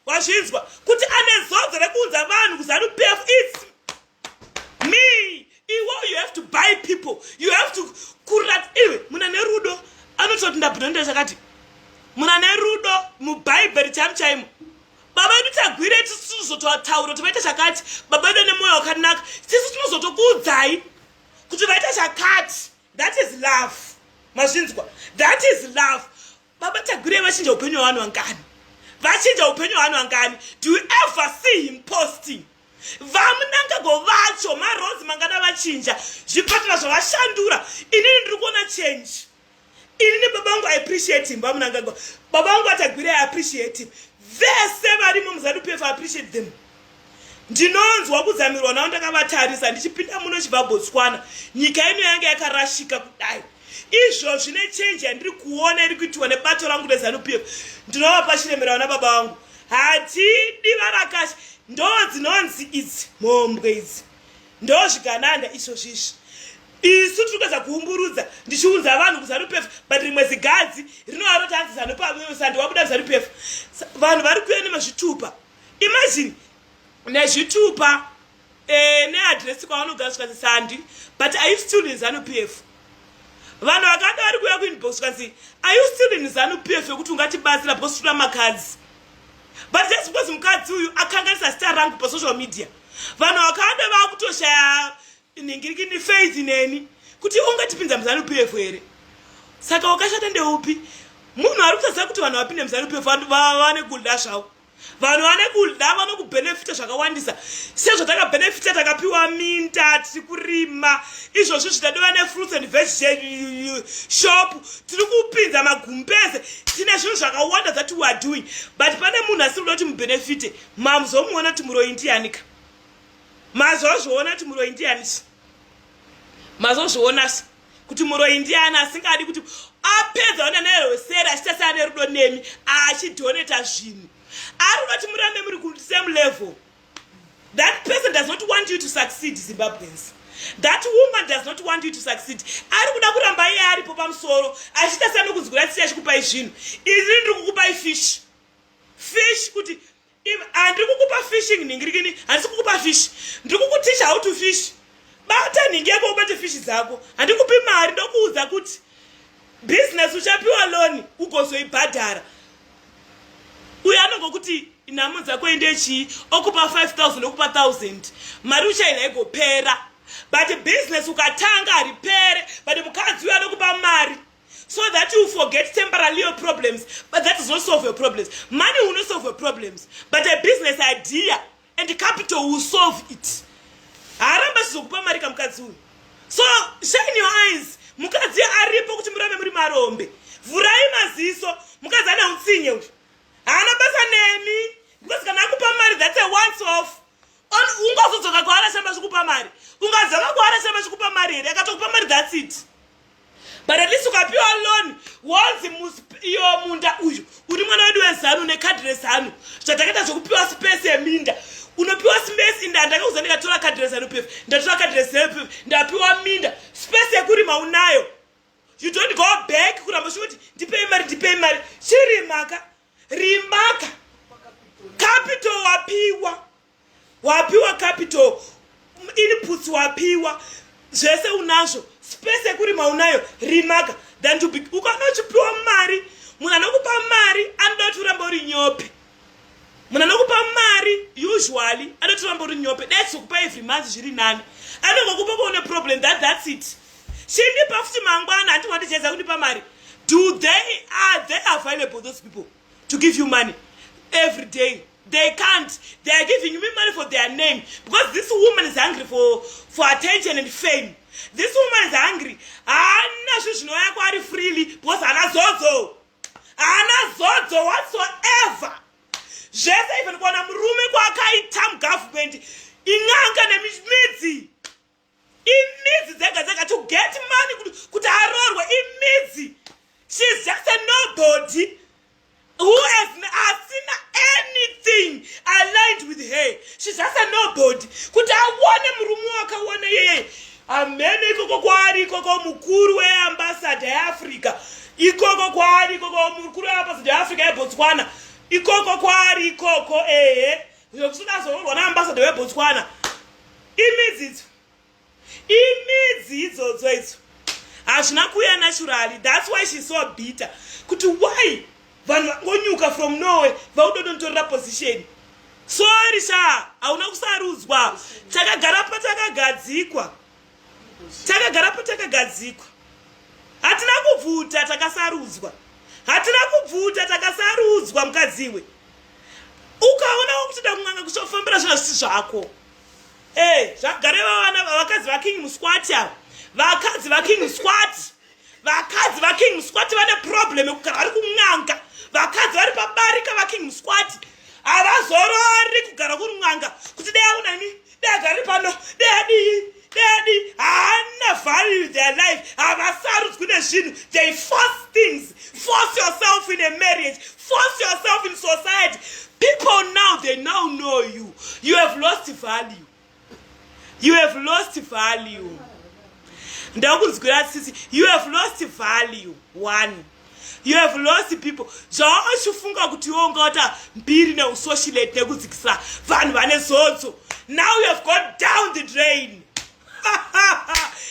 wazvinzwa kuti ane zodzo rekuunza vanhu kuzanu pf its me iwo you have to buy people you have to kurat iwe muna nerudo anototi ndabudonda chakati muna nerudo mubhaibheri chamu chaimo baba vedu tagwire tisu tinozototaura kuti vaita chakati baba vedu vane mwoyo wakanaka tisu tinozotokuudzai kuti vaita chakati that is love mazvinzwa that is love baba tagwire vachinja upenyu hwavanhu vangani vachinja upenyu hwavanhu vangani do you ever see him posting vamunangagwa vacho marozi mangana vachinja zvipatara zvavashandura inini ndiri kuona change ini nebaba vangu i appreciate him vamunangagwa baba vangu vatagwira i appreciate him vese varimo muzanupefa appreciate them ndinonzwa kudzamirwa navo ndakavatarisa ndichipinda muno chibva botswana nyika ino yange yakarashika kudai izvo zvine chenji yandiri kuona iri kuitiwa nebato rangu rezanup f ndinovapa chiremera vana baba vangu hatidi varakasha ndo dzinonzi idzi mhombwe idzi ndozvigananda izvozvi izvi isu tiri kuedza kuumburudza ndichiunza vanhu kuzanupf but rimwe zigadzi rinovaro tanzi zanupsandi wabuda kuzanupf vanhu vari kuya nemazvitupa imagine nezvitupa eh, neadresi kwavanogara zvikanzi sandi but are you still in zanupf vanhu vakada vari kuya kuinbox zvikanzi are you still in zanupf yokuti ungatibatsira bcause tinoda makadzi but just because mukadzi uyu akanganisa zita rangu pasocial media vanhu vakawanda vakutoshaya nhingiriki ndifaith neni kuti ungatipinza muzanup f here saka wakashata ndeupi munhu ari kutaziva kuti vanhu vapinde muzanup f vane kuda zvavo vanhu vane kuda vanokubhenefita zvakawandisa sezvatakabhenefita takapiwa minda tiri kurima izvozvi zvitatova nefruits and veg shop tiri kupinza magumbeze tine zvinhu zvakawanda that weare doing but pane munhu asiri kuda kuti mubhenefite mamuzomuona kuti muroyi ndiyanika mazozviona kuti muroyi ndiyanisa mazozvionasa kuti muroyi ndiyani asingadi kuti apedza ona nerweseri achiita seane rudo nemi achidhoneta zvinhu ari unoti murambe muri kuti same level that person does not want you to succeed zimbabweans that woman does not want you to succeed ari kuda kuramba iye aripo pamusoro achiita seanokunzwira tsiri achikupai zvinhu izini ndiri kukupai fishi fish kuti handiri kukupa fishing nhingirikini handisi kukupa fish ndiri kukuticha how to fish bata nhingi yako ubate fish dzako handikupi mari ndokuudza kuti business uchapiwa loni ugozoibhadhara uyo anongokuti nhamo dzako ende chii okupa 5000 okupa 1000 mari uchaina igopera but business ukatanga haripere but mukadzi uyo anokupa mari so that you forget temporalial problems but that does not solve your problems money will not solve your problems but a business idea and capital will solve it haaramba chizokupa mari kamukadzi uyu so shine your eyes mukadzi aripo kuti murambe muri marombe vhurai maziso mukadzi ana utsinye uyu haana basa nemi because kana akupa mari that's a once off ungazodzoka kwaarashamba zvikupa mari ungadzaka kwaarashamba zvikupa mari here akatokupa mari that's it but at least ukapiwa loan wonzi iyo munda uyu uri mwana wedu wezanu nekadhi rezanu zvatakaita zvekupiwa space yeminda unopiwa space inda ndakauza ndikatora kadhi rezanu pef ndatora kadhi rezanu pef ndapiwa minda space yekurima unayo you don't go back kuramba zvekuti ndipei mari ndipei mari chirimaka rimaka capital wapiwa wapiwa capital inputs wapiwa zvese unazvo space yekurima unayo rimaka than to be ukanochipiwa mari munhu anokupa mari anoda kuti uramba uri nyope munhu anokupa mari usually anoda kuti uramba uri nyope dats kukupa every month zviri nani anongokupa kuone problem that that's it chindipa futi mangwana hanti wandichedza kundipa mari do they are they available those people to give you money every day they can't they are giving me money for their name because this woman is hungry for, for attention and fame this woman is hungry haana zvinhu zvinouya kwaari freely because haana zodzo haana zodzo whatsoever zvese even kuona murume kwaakaita mugovernment in'anga nemidzi imidzi dzega dzega to get money kuti aroorwe imidzi she is just a nobody who has asina anything aligned with her she is just a nobody kuti aone murume wakaona yeye amene ikoko kwaari ikoko mukuru weambasada yeafrica ikoko kwaari ikoko mukuru weambasada yeafrica yebotswana ikoko kwaari ikoko ehe Izvo kusuda zororwa naambasada weBotswana. Imidzi idzo. Imidzi idzodzo idzo. Hazvina kuya naturally. That's why she's so bitter. Kuti why vanhu vangonyuka from Norway vaudodonotorera position. Sorry sha, hauna kusarudzwa. Takagara patakagadzikwa. takagara patakagadzikwa hatina kubvuta takasarudzwa hatina kubvuta takasarudzwa mukadziwe ukaonawo kuti dakun'anga kuchofambira zvina zvisi zvako e zvagare vavana vakadzi vaking musquati ava vakadzi vaking musquati vakadzi vaking musquati vane problem yekugara vari kun'anga vakadzi vari pabarika vaking musquati havazorori kugara kuri n'anga kuti dai aunani dai agari pano dai adii dai adii haana value their life havasarudzwi nezvinhu they force things force yourself in a marriage force yourself in society people now they now know you you have lost value you have lost value ndakunzwira sisi you have lost value one you have lost people zvawakachifunga kuti iwe ungawata mbiri neusoshilate nekudzikisa vanhu vane zodzo now you have gone down the drain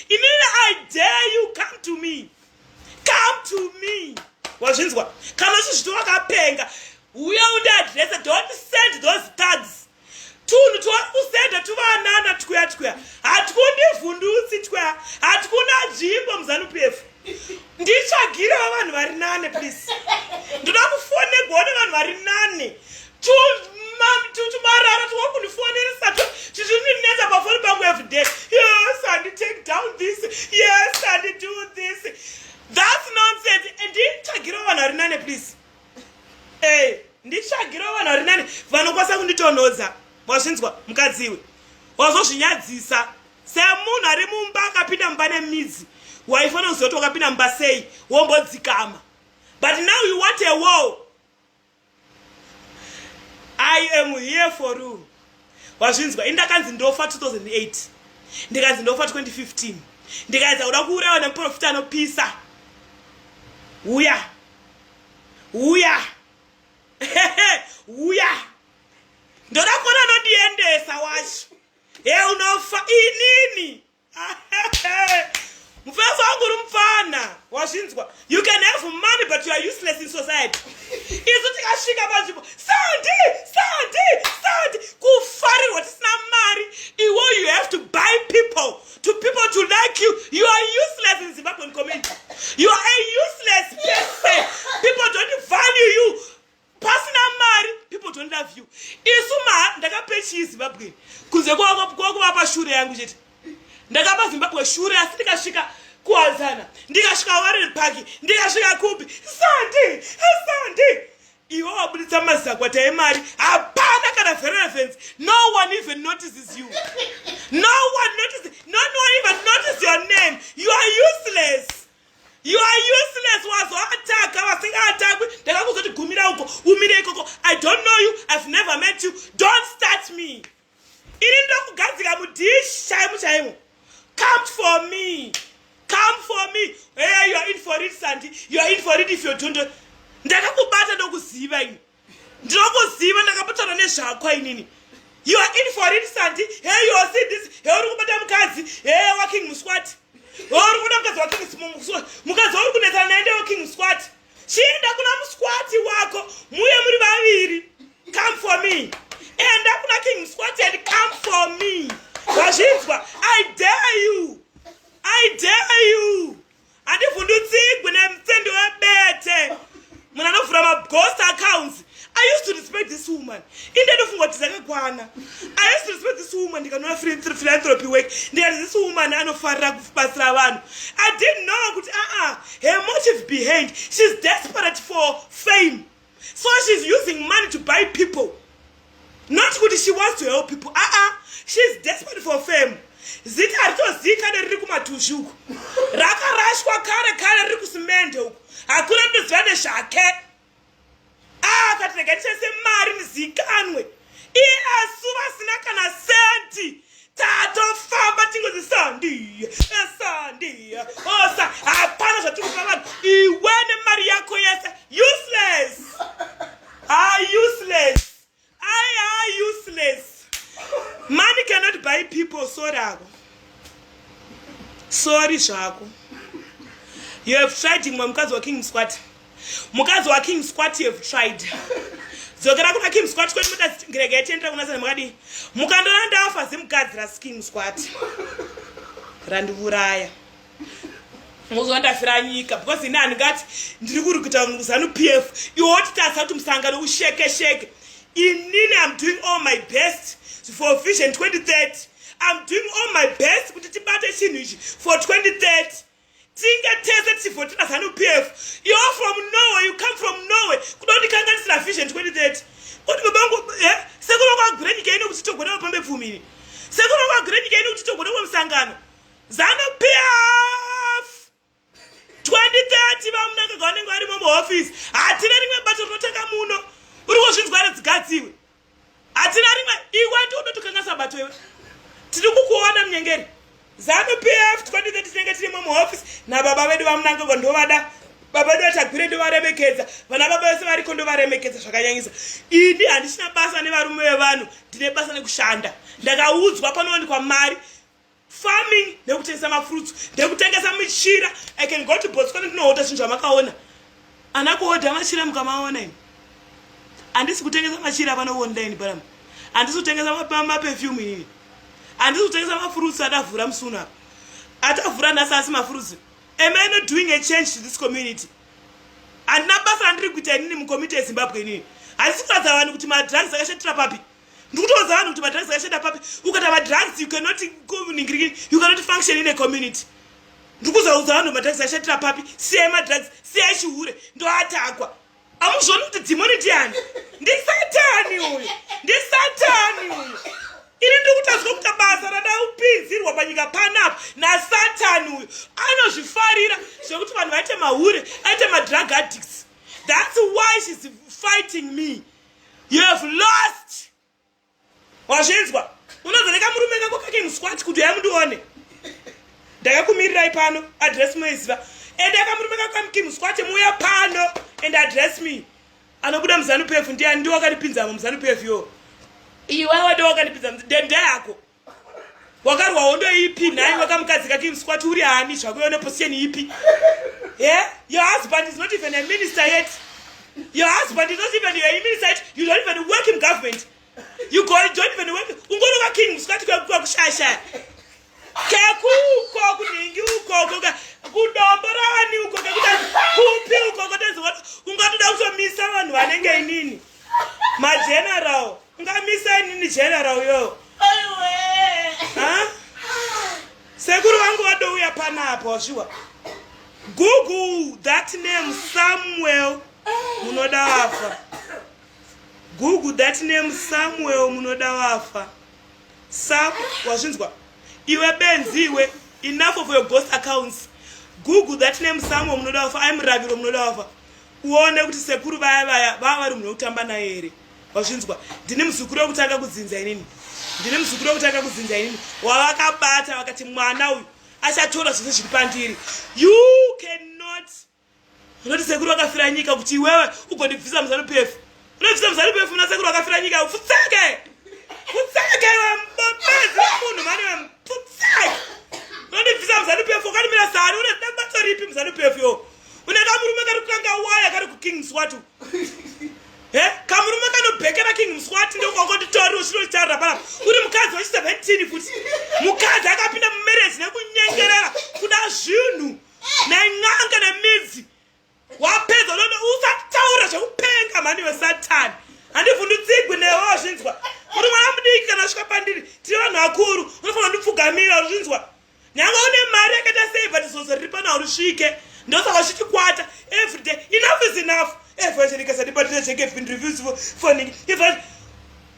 inini i dare you come to me come to me wazvinzwa kana chizvito wakapenga uya undiadrese don't send those cards tunhu twauri kusenda tuvanana tchwya tchwya hatikundivhundutsi tchwya hatikuna dzvimbo muzanupefu nditsvagire vavanhu vari nane please ndoda kufonegwa one vanhu vari nane tumarara twauri kundifoneresa to tizvinonetsa pafoni pangu everyday yes andi take down this yes andi do this thats nonsense nditsvagire vavanhu vari nane please Hey, nditsvagirawo vanhu vari nani vanokwanisa kunditonhodza wazvinzwa mukadzi iwe wazozvinyadzisa semunhu ari mumba akapinda mumba nemidzi waifanira kuziva kuti wakapinda mumba sei wombodzikama but now you want a wall i am here for you wazvinzwa ini ndakanzi ndofa 2008 ndikanzi ndofa 2015 ndikaedza kuda kuurawa nemuprofita anopisa uya yeah. huya huya ndoda kuona anondiendesa wacho he unofa inini mufeso wangu uri mupfana wazvinzwa you can have money but you are useless in society isu tikasvika panzvimbo sandi sandi sandi kufarirwa tisina mari iwo you have to buy people to people to like you you are useless in zimbabwean community you are a useless person people don't value you pasina mari people don't love you isu ma ndakape chii zimbabwean kunze kwakuvapa shure yangu chete ndakapa zimbabwe shure asi ndikasvika kuwazana ndikasvika warren park ndikasvika kupi sandi sandi Iwe wabuditsa mazakwata emari hapana kana verevence no one even notices you no one notices no one even notice your name you are useless you are useless wazoataka vasingatakwi ndakakuzoti gumira uko umire ikoko i don't know you i've never met you don't start me Ini ndokugadzika mudish chaimu chaimu. Come for me. Come for me. Hey, you are in for it, Sandy. You are in for it if you don't. Ndakakubata ndokuziva ini. Ndinokuziva ndakaputana nezvakwa inini. You are in for it, Sandy. Hey, you are seeing this. Hey, uri kubata mukadzi. Hey, working muswati. Hey, uri kubata mukadzi working muswati. Mukadzi uri kunetsana naye ndeworking muswati. chienda kuna musquati wako muye muri vaviri come for me enda kuna king musquati and come for me vazvinzwa i dare you i dare you handivhundutsigwi nemutsendi webete munhu anovhura magost accounts I used to respect this woman. Inde ndofunga kuti dzakakwana. I used to respect this woman ndikanoona philanthropy work. Ndikati this woman anofarira kubatsira vanhu. I didn't know kuti ah ah her motive behind she's desperate for fame. So she's using money to buy people. Not kuti she wants to help people. Ah ah she's desperate for fame. zita haritozivi kane riri kumatusvi uku rakarashwa kare kare riri kusimende uku hakuna rinoziva nezvake akati ah, rega ndishandise mari ndizikanwe iye asu vasina kana senti tatofamba tingozi sandiya sandiya osa hapana zvatiri kupa vanhu iwe nemari yako yese useless ha ah, useless I are useless. Money cannot buy people. Sorry ako. Sorry zvako. You have tried imwe mukadzi wa King Squat. Mukadzi wa King Squat you have tried. dzokera kuna kim squat kwenu mudazirega yatiendera kuna zana makadii mukandona ndafa zimukadzi rasi kim squat randiuraya moziva ndafira nyika because ini handingati ndiri kuri kuita zanu p f iwo wotitarisa kuti musangano usheke sheke inini am doing all my best for vision 2030 am doing all my best kuti tibate chinhu ichi for 2030 tinge tese tichivhotera zanu p f you're from norway you come from norway kuda kundikanganisira vision 2030 kuti babangu eh, sekunokwagure nyika ino kuti togona vapambe pfumini sekunokwagure nyika ino kuti togona vamusangano Zanu PF 2030 vamunangagwa vanenge varimo muhofisi hatina rimwe bato rinotanga muno uri kuzvinzwa here dzigadziwe hatina rimwe iwe ndi unotokanganisa bato iwe tiri kukuona munyengeri zanu PF 2030 tinenge tirimo muhofisi nababa vedu vamunangagwa ndovada baba vedu vatagwire ndovaremekedza vana baba vese variko ndovaremekedza zvakanyanyisa ini handichina basa nevarume vevanhu ndine basa nekushanda ndakaudzwa panowanikwa mari farming nekutengesa mafruits ndekutengesa michira i can go to botswana ndinohota zvinhu zvamakaona ana kuhodha machira mukamaona ini handisi kutengesa machira pano online parama handisi kutengesa mapefyume inini handisi kutengesa mafruits adavhura musi uno apa atavhura nhasi asi mafruits am i not doing a change to this community handina basa randiri kuita inini mukomiti yezimbabwe inini handisi kuratidza vanhu kuti madrugs akashatira papi ndikutoudza vanhu kuti madrugs akashanda papi ukata madrugs you cannot kuningirikini you cannot function in a community ndikuzoudza vanhu madrugs akashatira papi siyai madrugs siyai chihure ndoatakwa amuzvoni kuti dhimoni ndiani ndisatani uyu ndisatani uyu ini ndikutadzwa kuta basa radaupinzirwa panyika panapa nasatani uyu anozvifarira zvekuti vanhu vaite mahure aite madrug addicts thats why shes fighting me you have lost wazvinzwa unozoreka murume kako kake musquat kuti uya mundione ndakakumirirai pano address moiziva ende akamurume kako kamki musquat muuya pano and address me anobuda muzanu pf ndiani ndiwo akanipinzamo muzanu pf yo iwe wade wakanipinzamo dende yako wakarwa hondo ipi nhai wakamukadzi kake mskwati uri hani zvako yone position ipi e your husband is not even a minister yet your husband is not even a minister yet you don't even work in government you go don't even work ungoroka king mskwati kwakushashaya kekuko kunhingi ukoko ka kudombo ravani uko kekuta kupi ukoko tezivona ungatoda kutomisa vanhu vanenge inini mageneral Ungamisa inini general uyo. Aiwe. Ha? Sekuru wangu wadouya pana apo washiwa. Google that name Samuel munoda wafa. Google that name Samuel munoda wafa. Sam wazvinzwa. Iwe benzi iwe enough of your ghost accounts. Google that name Samuel munoda wafa. I'm Raviro munoda wafa. uone kuti sekuru vaya vaya vava vari munhu wekutamba naye here wazvinzwa ndini muzukuru wekutanga kudzinza inini ndini muzukuru wekutanga kudzinza inini wavakabata vakati mwana uyu achatora zvese zviri pandiri you cannot unoti sekuru vakafira nyika kuti iwewe ugondibvisa muzanu pefu Unobvisa muzari pefu na sekuru akafira nyika ufutseke. Futseke we mbopezi we munhu mani we mputseke. Unobvisa muzari pefu ukanimira sani une dambatso ripi muzari pefu yo. Une kamurume kari kukanga waya kari kuking swatu. He kamurume kanobhekera king mswati ndokwakonditoari uchinotarira paa uri mukadzi wechi 17 futi mukadzi akapinda mumarriage nekunyengerera kuda zvinhu nen'anga nemidzi wapedza unoti usataura zvekupenga mhani wesatani handivhundutsigwi newe wazvinzwa uri mwana mudiki kana svika pandiri tiri vanhu vakuru unofanira ndipfugamira uzvinzwa nyanga une mari yakaita sei but zozo riri pana urisvike ndosaka zvichikwata everyday enough is enough evangelikasadibatira chekefin reviews foning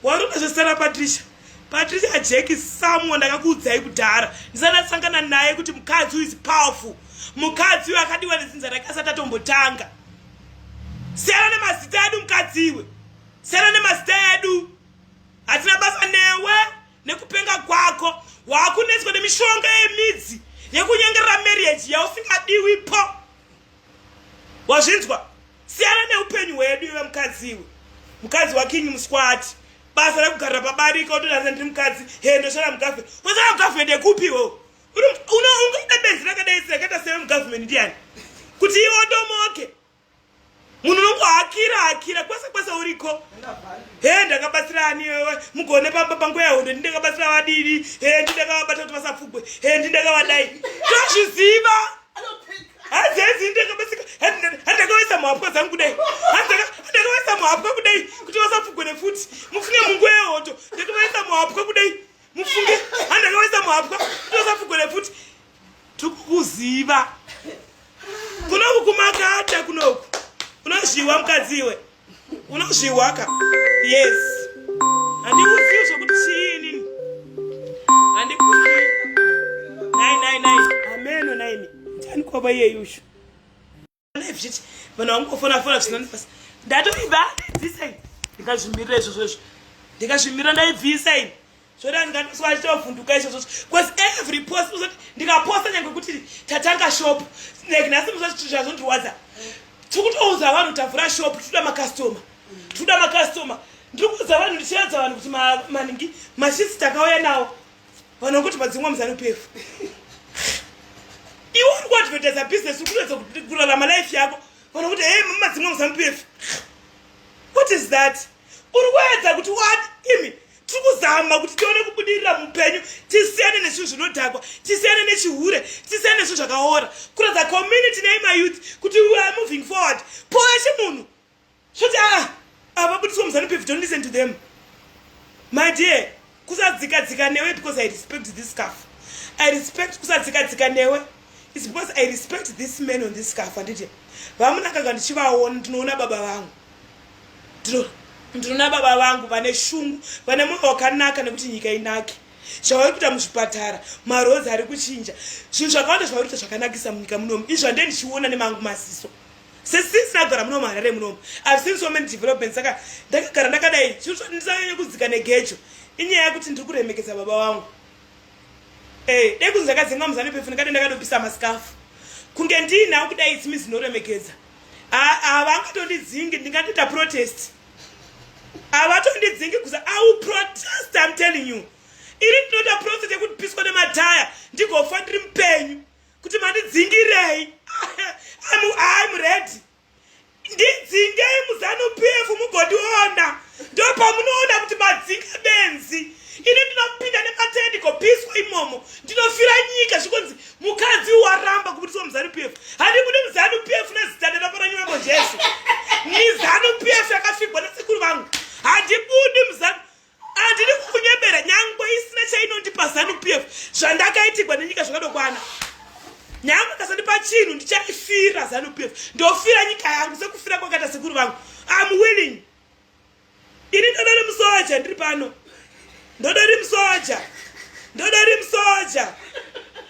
wari unazvesara patricia patricia jeki someone ndakakuudzai kudhara ndisanatsangana naye kuti mukadzi uyu is powerful mukadzi uyu akadiwa nedzinza rake asati atombotanga siyana nemazita edu mukadzi iwe siyana nemazita edu hatina basa newe nekupenga kwako waakunetswa nemishonga yemidzi yekunyengerera marriage yausingadiwipo wazvinzwa siyana neupenyu hwedu iwe mukadzi iwe mukadzi wakingi muskwati basa rekugarira pabarika otonasa ndiri mukadzi he ndoshora mugafe kwasara mugafumendi ekupi iwewo unoungaida benzi rakadai sirakaita sewe mugafumendi ndiyani kuti iwe odomoke munhu unongohakira hakira kwese kwese uriko he ndakabatsira ani iwewe mugone pamba panguva yahondo ndi ndakabatsira vadidi he ndi ndakavabata kuti vasapfugwe he ndi ndakavadai tozviziva hanzi hanzi ndakabasika handakavaisa muhapwa dzangu kudai handakavaisa muhapwa kudai kuti vasapfugone futi mufunge munguva yehoto ndakavaisa muhapwa kudai mufunge handakavaisa muhapwa kuti vasapfugone futi tikukuziva kunoku kumakata kunoku unozviwa mukadzi iwe unozviwaka yes handikuzivi zvekuti chii inini handikuzi nai nai nai ameno naimi ndani kwava iyeyushu zviti vanhu vangofona fona zvisina nefasi ndatoiba ndibvisei ndikazvimirira izvozvo izvo ndikazvimirira ndaibvisa ini zvoda ndingatiswa nditovhunduka izvozvo bcause every post uzoti ndikaposta nyange kuti tatanga shop like nhasi muzvazvazondirwadza tikutouza vanhu tavhura shop titoda makastoma titoda makastoma ndiri kuudza vanhu ndichiradza vanhu kuti maningi mashisi takauya nawo vanhu vakuti madzimwa muzanupefu iwe uri kuadvertisa business uri kuedza kurarama life yako vanhu vakuti hey madzimwa muzanupefu what is that uri kuedza kuti wad imi tiri kuzama kuti tione kubudirira mupenyu tisiyane nezvinhu zvinodhakwa tisiyane nechihure tisiyane nezvinhu zvakaora kuratidza community nei mayouth kuti we are moving forward poeshe munhu zvoti a ah, avabudiswa muzanu pevi don't listen to them my dear kusadzika dzika newe because i respect this scarf i respect kusadzika dzika newe is because i respect this man on this scarf anditi vamunakanga ndichivaona ndinoona baba vangu ndinoona baba vangu vane shungu vane mwoyo wakanaka nekuti nyika inake zvavari kuita muzvipatara marozi ari kuchinja zvinhu zvakawanda zvavari kuita zvakanakisa munyika munomu izvi zvandee ndichiona nemangu maziso sesince ndagara munomu harare munomu ive seen so many development saka ndakagara ndakadai zvinhu zvandisanyanya kudzika negejo inyaya yekuti ndiri kuremekedza baba vangu eh, dai kunzi ndakadzenga muzani pefu ndikade ndakadopisa masikafu kunge ndiinawo kudai tsimizi inoremekedza havangatondidzingi ndingatoita protest havatondidzingi kuza i will protest im telling you iri ndinoita protest yekuti piswa nemataya ndigofa ndiri mupenyu kuti mandidzingirei hayi muredi ndidzingei muzanu pf mugondiona ndopamunoona kuti madzinga benzi ini ndinopinda nemataya ndigopiswa imomo ndinofira nyika zvikonzi mukadzi uyu aramba kubudiswa muzanu p f handibudi muzanu p f nezita ndarako ranyu mambo jesu mizanu p f yakafigwa nesekuru vangu handibudi muzanu handidi kukunyebera nyangwe isina chainondipa zanu p f zvandakaitigwa nenyika zvakadokwana nyangwe kasandipa chinhu ndichaifira zanu p f ndofira nyika yangu sekufira kwakaita sekuru vangu am willing Ini ndoda ri musoja ndiri pano. Ndoda ri musoja. Ndoda ri musoja.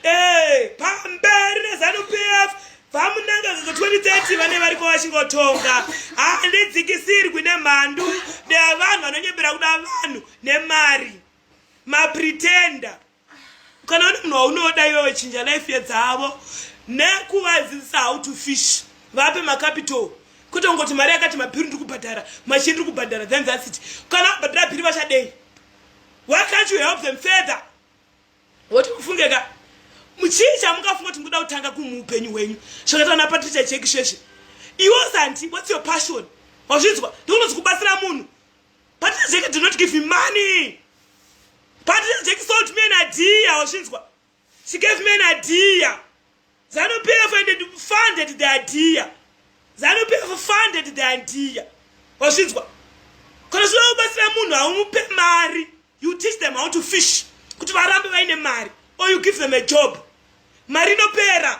Eh, pamberi ne Zanu PF vamunanga zvo 2030 vane vari ko vachingotonga. Ah, ndidzikisirwi ne mhandu ne vanhu vanonyebera kuda vanhu ne mari. Ma pretender. kana une munhu waunoda iwe wechinja life yedzavo nekuvadzidzisa how to fish vape macapital kwete kungoti mari yakati mabhiri ndiri kubhadhara machini ndiri kubhadhara then that's it kana vabhadhara bhiri vachadei why can't you help them further woti kufungeka muchii chamukafunga kuti mukuda kutanga kumuupenyu hwenyu zvakaita na patricia cheki sheshe iwo santi what's your passion wazvinzwa ndikunozi kubatsira munhu Partner Jackie do not give me money. Partner Jackie sold me an idea, washinzwa. She gave me an idea. Zanu PF and it funded the idea. Zanu PF funded the idea. Washinzwa. Kana sula ubasira munhu haumupe mari. You teach them how to fish. Kuti varambe vaine mari. Or you give them a job. Mari inopera.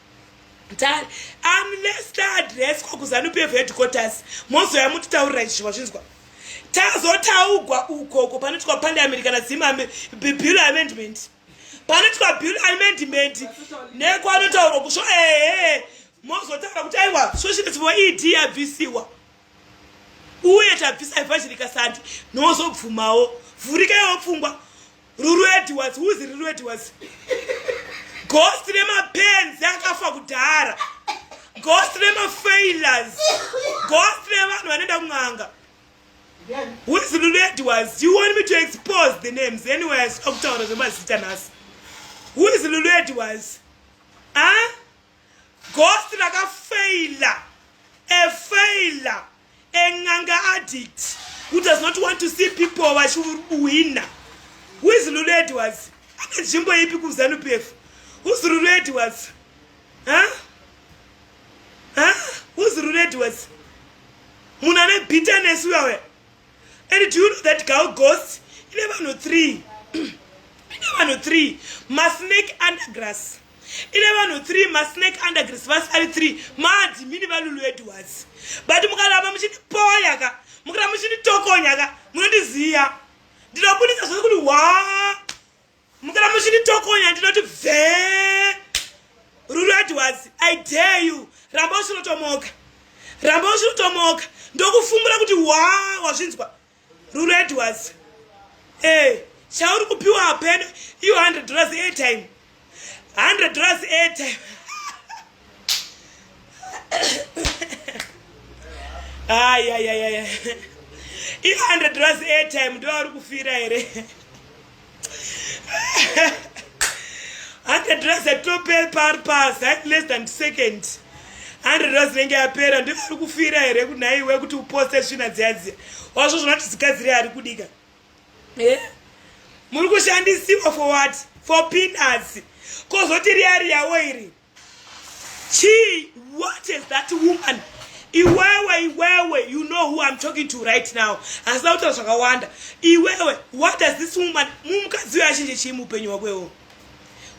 mtare unless taadreswa kuzanu pf headquarters mozoya mutitaurira izvi wazvinzwa tazotaugwa uko uko panoitwa parliament kana zim bill amendment panoitwa bill amendment nekwanotaurwa kusvo ehe mozotaura kuti aiwa svoshiriswa ed yabvisiwa uye tabvisa evhazhirika sandi nozobvumawo vhurikaiwo pfungwa Ruru Edwards, who's Ruru Edwards? Ghost remapenzi akafa kudhara. Ghost remafailures. Ghost revanhu vanoenda kun'anga. Who's Ruru Edwards? You want me to expose the names anyway asina kutaura zvemazita nhasi. Who's Ruru Edwards? Huh? Ah? ghost rakafeila a failer a nganga addict who does not want to see people vachiwina who is lulu edwards ane nzvimbo ipi kuzanu p f who's lulu edwards huh? Huh? who's lulu edwards munhu ane bitterness uyawe and do you know that gal ghost ine vanhu three ine vanhu three masnake undergrass ine vanhu three masnake undergrass vasi vari three maadimini valulu edwards but mukaramba muchindipoya ka mukaramba muchinditokonya ka munondiziya ndinobudisa zvose kuti waa mukana muchinitokonya ndinoti bvee ruru adwards i dare you ramba usinotomoka ramba usinotomoka ndokufungura kuti wa wazvinzwa ruru adwards e eh, chauri kupiwa hapeno iyo 100 dollars airtime 100 dollars airtime ayayayaya i 100 dollars airtime ndoauri kufira here hande dress atope paari pas hadi less than second hande dress inenge yapera ndiyo ari kufira here kunaiwe kuti uposte svina dziyadziya wazvo zvona kuti zikadziri ari kudika eh? muri kushandisiwa for what for pinas kozoti riya riyawo iri Chii? What is that woman? Iwewe, iwewe, you know who I'm talking to right now. Hasina kutaura zvakawanda. Iwewe, what does this woman, mumukadzi uyo achinje chii muupenyu wako iwowo?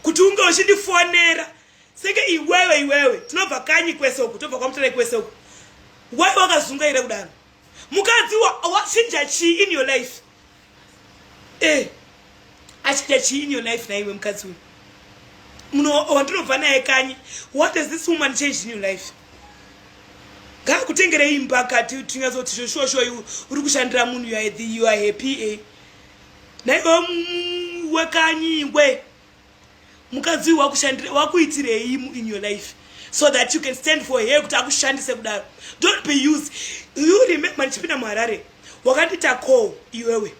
Kuti unge uchindifonera senge iwewe, iwewe, tinobva kanyi kwese uku, tobva kwamuterai kwese uku. Why wakazungaira kudaro? mukadzi wachinja chii in your life eh achinja chii in your life naiwe mukadzi uyu wandinobva naye kanyi what has this woman changed in your life ngakutengere imba kati tinyatsoti zveshuwashuwa uri kushandira munhu you are happy eh naiwe wekanyi we mukadzi uyu wakuitirei in your life so that you can stand for her kuti akushandise kudaro don't be used you remember ndichipinda muharare wakandita call iwewe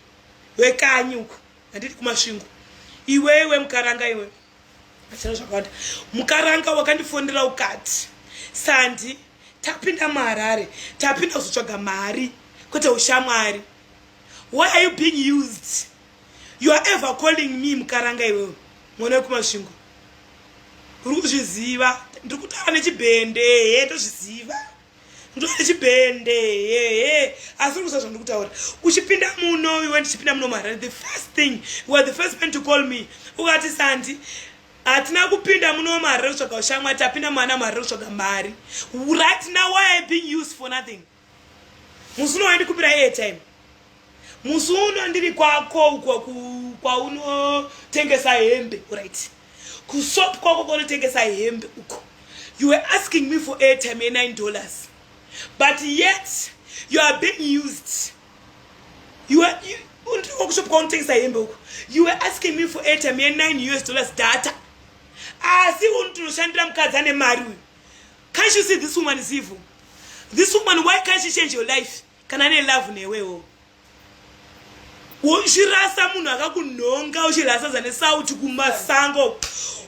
wekanyi uku handiti kumasvingo iwewe mukaranga iwe achina zvakawanda mukaranga wakandifonera ukati sandi tapinda muharare tapinda kuzotsvaga mari kwete ushamwari why are you being used you are ever calling me mukaranga iwewe mwana wekumasvingo uri kuzviziva ndiri kutaura nechibhende hee ndozviziva ndiri nechibhende hee asi uri kuziva zvandiri kutaura uchipinda muno iwe ndichipinda muno muharare the first thing you are the first man to call me ukati sandi hatina kupinda muno muharare kutsvaga ushamwa tapinda mwana muharare kutsvaga mari right now why i being used for nothing musi uno wandikumbira airtime musi uno ndiri kwako uko kwaunotengesa hembe right kusop kwako kwaunotengesa hembe uko you were asking me for airtime ye 9 dollars but yet you are being used you are you, kusop kwaunotengesa hembe uko you were asking me for airtime ye 9 us dollars data asi unotoshandira mukadzi ane mari uyu Can't you see this woman is evil? This woman, why can't she change your life? Kana ne love newewo. Uchirasa munhu akakunhonga uchirasa zane sauti kumasango.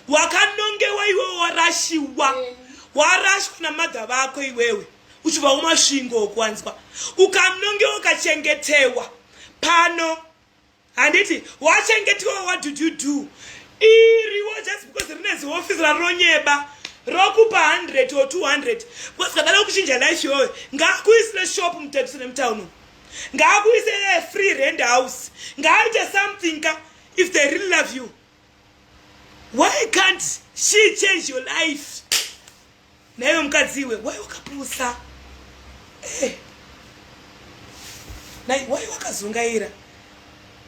Wakanongewa iwewe warashiwa. Warashwa na mother vako iwewe. Uchibva kumasvingo kwanzwa. Ukanongewa ukachengetewa. Pano handiti wachengetwa what did you do iriwo just because rine ziofisi rarinonyeba rokupa 100 or 200 because kadada kuchinja life yoyo ngaakuisire shop mutepsi nemutown ngaakuise free rand house ngaaite something ka if they really love you why can't she change your life naiwe mukadzi iwe wai wakapusa eh. nai wai wakazungaira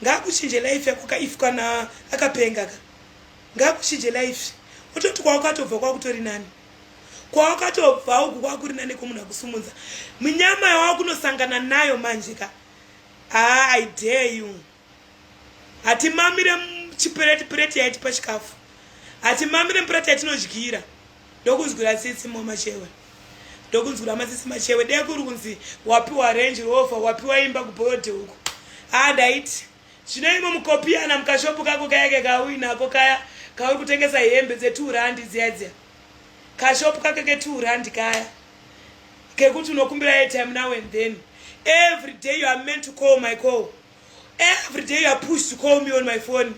ngaakuchinje life yako ka if kana akapenga ka ngaakuchinje life ototi kwawakatobva kwakutori nani kwawakatobva uku kwakuri nani komunhu akusumunza munyama yawakunosangana nayo manje ka haa ah, i dare you hatimamire chipureti pureti yaitipa chikafu hatimamire mupureti yatinodyira Ndokunzwira tsitsi mumwe machewe. Ndokunzwira matsitsi machewe. Dai kuri kunzi wapiwa range rover, wapiwa imba kuboyode uko. Ah ndaiti. Zvino imwe mukopiyana mukashopu kako kaya ke kauyi nako kaya kauri kutengesa hembe dze 2 rand dziya dziya. Kashopu kake ke 2 rand kaya. Kekuti unokumbira airtime now and then. Every day you are meant to call my call. Every day you are pushed to call me on my phone.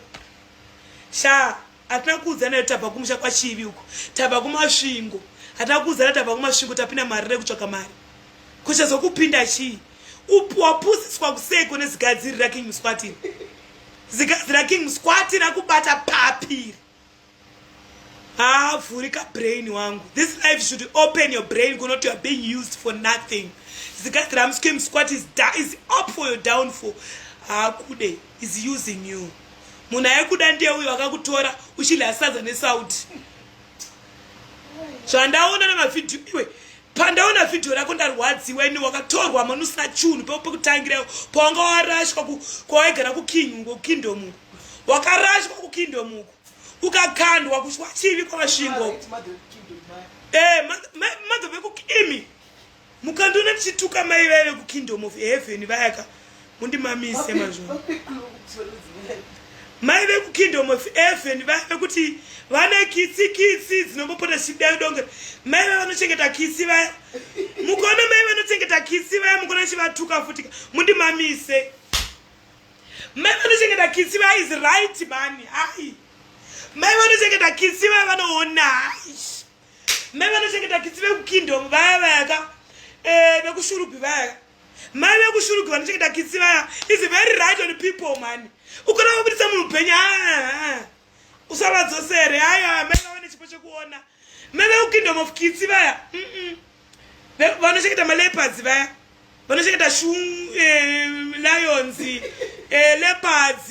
Sha, hatina kuudzana nayo tabva kumusha kwachivi uko tabva kumasvingo hatina kuudzana tabva kumasvingo tapinda mari rekutsvaga mari kuchazokupinda chii wapusiswa kuseko nezigadziri raking muswatini zigadziri raking muswati rakubata papiri haavhurika brain wangu this life should open your brain kunoti youare being used for nothing zigadziri ramuskim squat is, is up for your downfall haakudei is using you munhu aikuda ndiye uyo akakutora uchidya sadza nesauti zvandaona namavhidhiyo iwe pandaona vhidhiyo rako ndarwadziwa ini wakatorwa mani usina chunhu peo pekutangirayo pawanga warashwa kwawaigara kukingo kukingdomuko wakarashwa kukingdomuko ukakandwa kuchwa chivi kwamasvingo e eh, madho vekukimi Mukandiona ndichituka mai vaya vekukingdom of heaven vayaka mundimamise mazvo. Mai vekukingdom of heaven vaya vekuti vane kitsi kitsi dzinombopota zvichidai donge mai vaya vanochengeta kitsi vaya. Mukaona mai vanochengeta kitsi vaya mukaona chivatuka futika mundimamise. Mai vanochengeta kitsi vaya is right mani. Hai. Mai vanochengeta kitsi vaya vanoona. Hai. mai vanochengeta kitsi vekukingdom vaya vayaka eh, vekushurupi vayaka mai vekushuruki vanochengeta kitsi vaya is very right on people mani ukona vabudisa munhu upenyu aa usavadzosere ayo mai vava nechipo chekuona mai vekukingdom of kitsi vaya vanochengeta malepads vaya vanochengeta shu eh, lions eh, lepads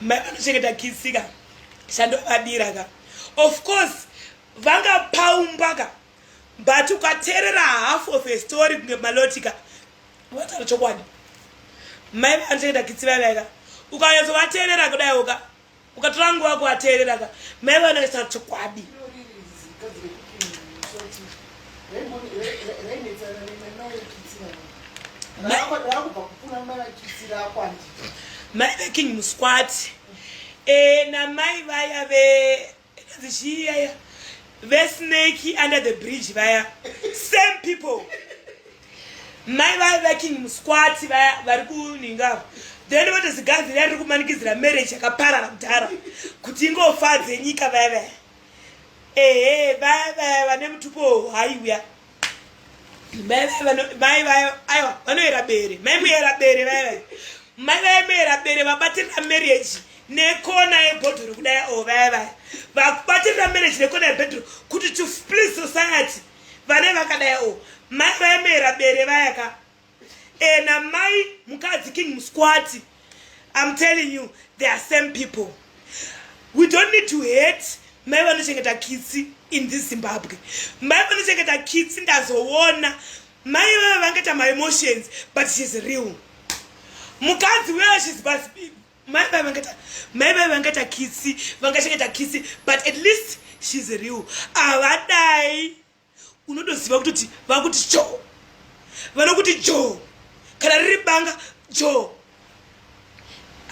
mai vanochengeta kisi ka chandovadira ka of course vanga paumba ka but ukateerera half of a story kunge maloti ka vataura chokwadi mai vanochengeta kisi vaivaika ukanyatsovateerera kudaiwo ka ukatora nguva kuvateerera ka mai vanoisa chokwadi mai veking musquati e namai vaya ve Ikanzi chii yaya vesnake under the bridge vaya same people mai vaya vaking musquati vaya vari kuningavo then voto ziganzi riya riri kumanikidzira marriage yakaparara kudhara kuti ingofadze nyika vaya vaya ehe vaya vaya vane mutupo haiuya mai vayo aiwa vanoera bere mai muera bere vai vai mai vayo muera bere vabatirira marriage nekona yebhodhuru kudai o vaya vaya vakubatirira marriage nekona yebhodhuru kuti to split society vane vakadai o mai vayo muera bere vaya ka and eh, amai mukadzi king musquati i'm telling you they are same people we don't need to hate mai vanochengeta kitsi in this zimbabwe mai vanochengeta kitsi ndazoona mai vave vangaita maemotions but shes real mukadzi where shes but mai vave vangaita mai vave vangaita kitsi vangachengeta kitsi but at least shes real havadai ah, unotoziva kutoti vakuti joo vanokuti joo kana riri banga joo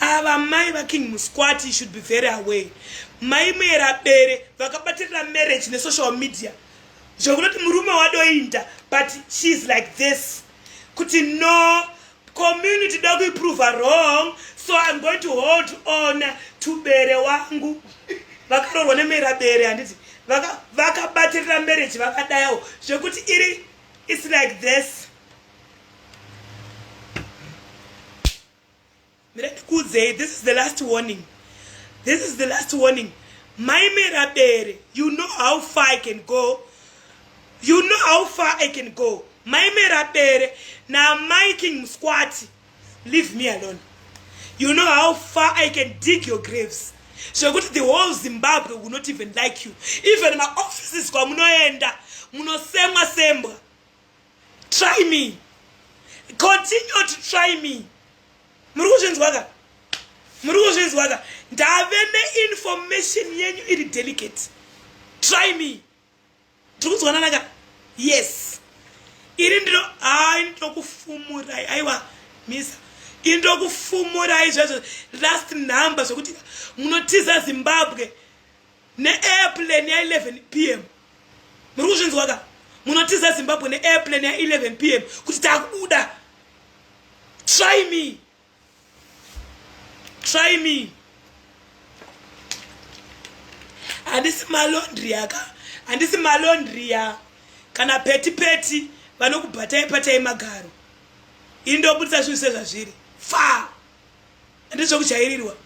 ava mai vaking musquati should be very away mai muera bere vakabatirira marriage nesocial media zvekunoti murume wadoinda but she is like this kuti no community da kuiprova wrong so im going to hold on to bere wangu vakaroorwa nemera bere handiti vakabatirira vaka marriage vakadayawo zvekuti iri its like this ndikuudzei this is the last warning this is the last warning maimera bere you know how far i can go You know how far I can go. Mai Merabere naamai King Muskwati. Leave me alone. You know how far I can dig your graves. Zvekuti the whole Zimbabwe will not even like you. Even my offices kwamunoenda munosemwa sembwa. Try me. Continue to try me. Muri kuzvinzwa ka? Muri kuzvinzwa ka? Ndave neinformation yenyu iri delicate. Try me. tikudzwanana ka yes iri ndiro ai ndokufumurai aiwa misa iri ndokufumurai zvezvo last number zvekuti munotiza zimbabwe neairplane ya 11 p m muri kuzvinzwa ka munotiza zimbabwe neairplane ya 11 p m kuti takubuda try me try me handisi malondria ka handisi malondria kana peti peti vanokubatai patai magaro ini ndobudisa zvinhu sezvazviri fa handizvekujairirwa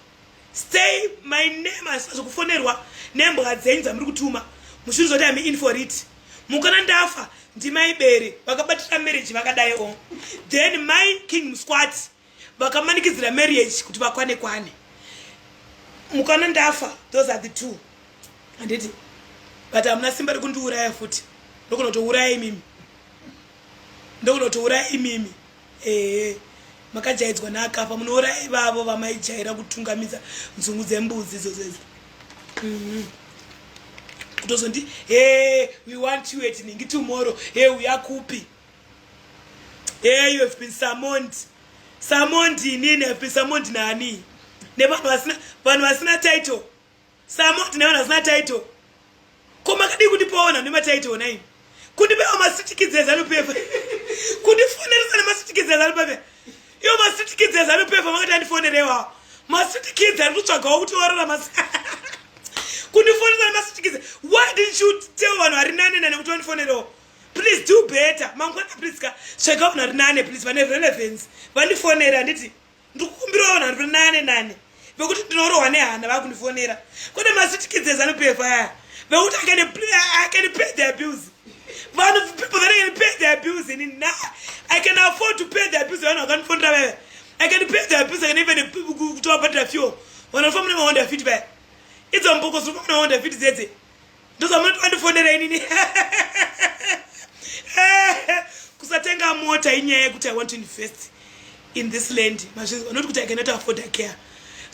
Stay my name asi zvokufonerwa nembwa dzenyu dzamuri kutuma mushure zoti am in for it mukana ndafa ndimai bere vakabatira marriage vakadai o then mai king musquati vakamanikidzira marriage kuti vakwane kwane mukana ndafa those are the two handiti but hamuna simba rekundiuraya futi nokona kutouraya imimi ndokunotouraya imimi ehe makajaidzwa naakafa munouraya ivavo vamaijaira kutungamidza nzungu dzembudzi idzodzo idzo mhm. kutozondi he we want you at ningi tomorrow he uya kupi he you have been summoned summoned inini have been summoned nani nevanhu vasina vanhu vasina title Samo tine vanhu vasina title. Ko makadii kundipawo vanhu vane matitle nai? Kundipawo masitikidzi eZanu PF. Kundifoneresa nemasitikidzi eZanu PF. Iyo masitikidzi eZanu PF makati andifonerewo. Masitikidzi ari kutsvagawo kuti orora masi. Kundifoneresa nemasitikidzi. Why didn't you tell vanhu vari nane nane kuti vandifonerewo? Please do better. Mangwana please ka. Tsvaga vanhu vari nane please vane relevance. Vandifonere handiti? ndikukumbirawo vanhu vari nane nane vekuti ndinorohwa nehana vakundifonera kune masitikidzes anopefa aya vekuti akanipay the abuse vanhu people that can pay the abuse ini na i can afford to pay the abuse vanhu vakandifonera vaya i can pay the abuse i can even kutova bhadhira fuel vanhu vanofa mune mahonda fit vaya idzo mboko ziri kufa mune mahonda fit dzedze ndozamunoti vandifonera inini kusatenga mota inyaya yekuti i want to invest in this land mazvinzwa not kuti i cannot afford a care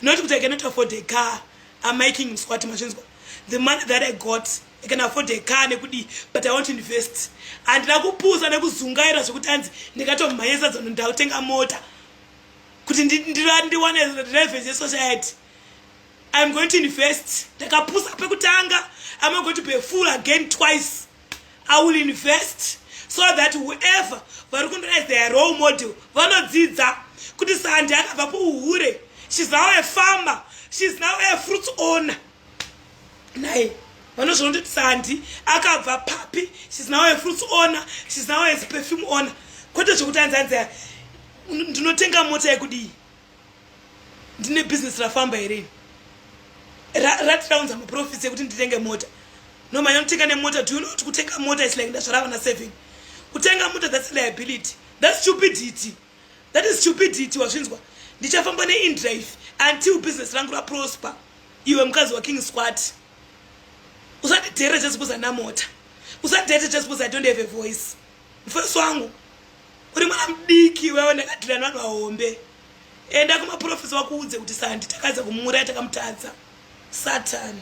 not kuti i cannot afford a car am making mswati mazvinzwa the money that i got i can afford a car nekudii but i want to invest handina kupusa nekuzungaira zvekuti hanzi ndikatomhanyisa dzano ndakutenga mota kuti ndiwane revenue yesociety I'm going to invest. Ndakapusa pekutanga. I'm not going to be a fool again twice. I will invest so that whoever vari kundona as their role model vanodzidza kuti sandi akabva kuuhure she's now a farmer she's now a fruits owner naye vanozviona kuti sandi akabva papi she's now a fruits owner she's now a perfume owner kwete zvekuti anzi anzi ndinotenga mota yekudii ndine business rafamba here ratiraunza muprofits yekuti nditenge mota nomanya kutenga nemota do you know kuti kutenga mota is like ndazvara vana seven kutenga mota that's liability that's stupidity that is stupidity wazvinzwa ndichafamba neindrive until business rangu raprosper iwe mukadzi waking squat usandidhere just because ana mota usandidhere just because i don't have a voice mufesi wangu uri mwana mudiki wewe ndakatira nani wahombe enda kumaprofesa wakuudze kuti sandi takaedza kumuuraya takamutadza satani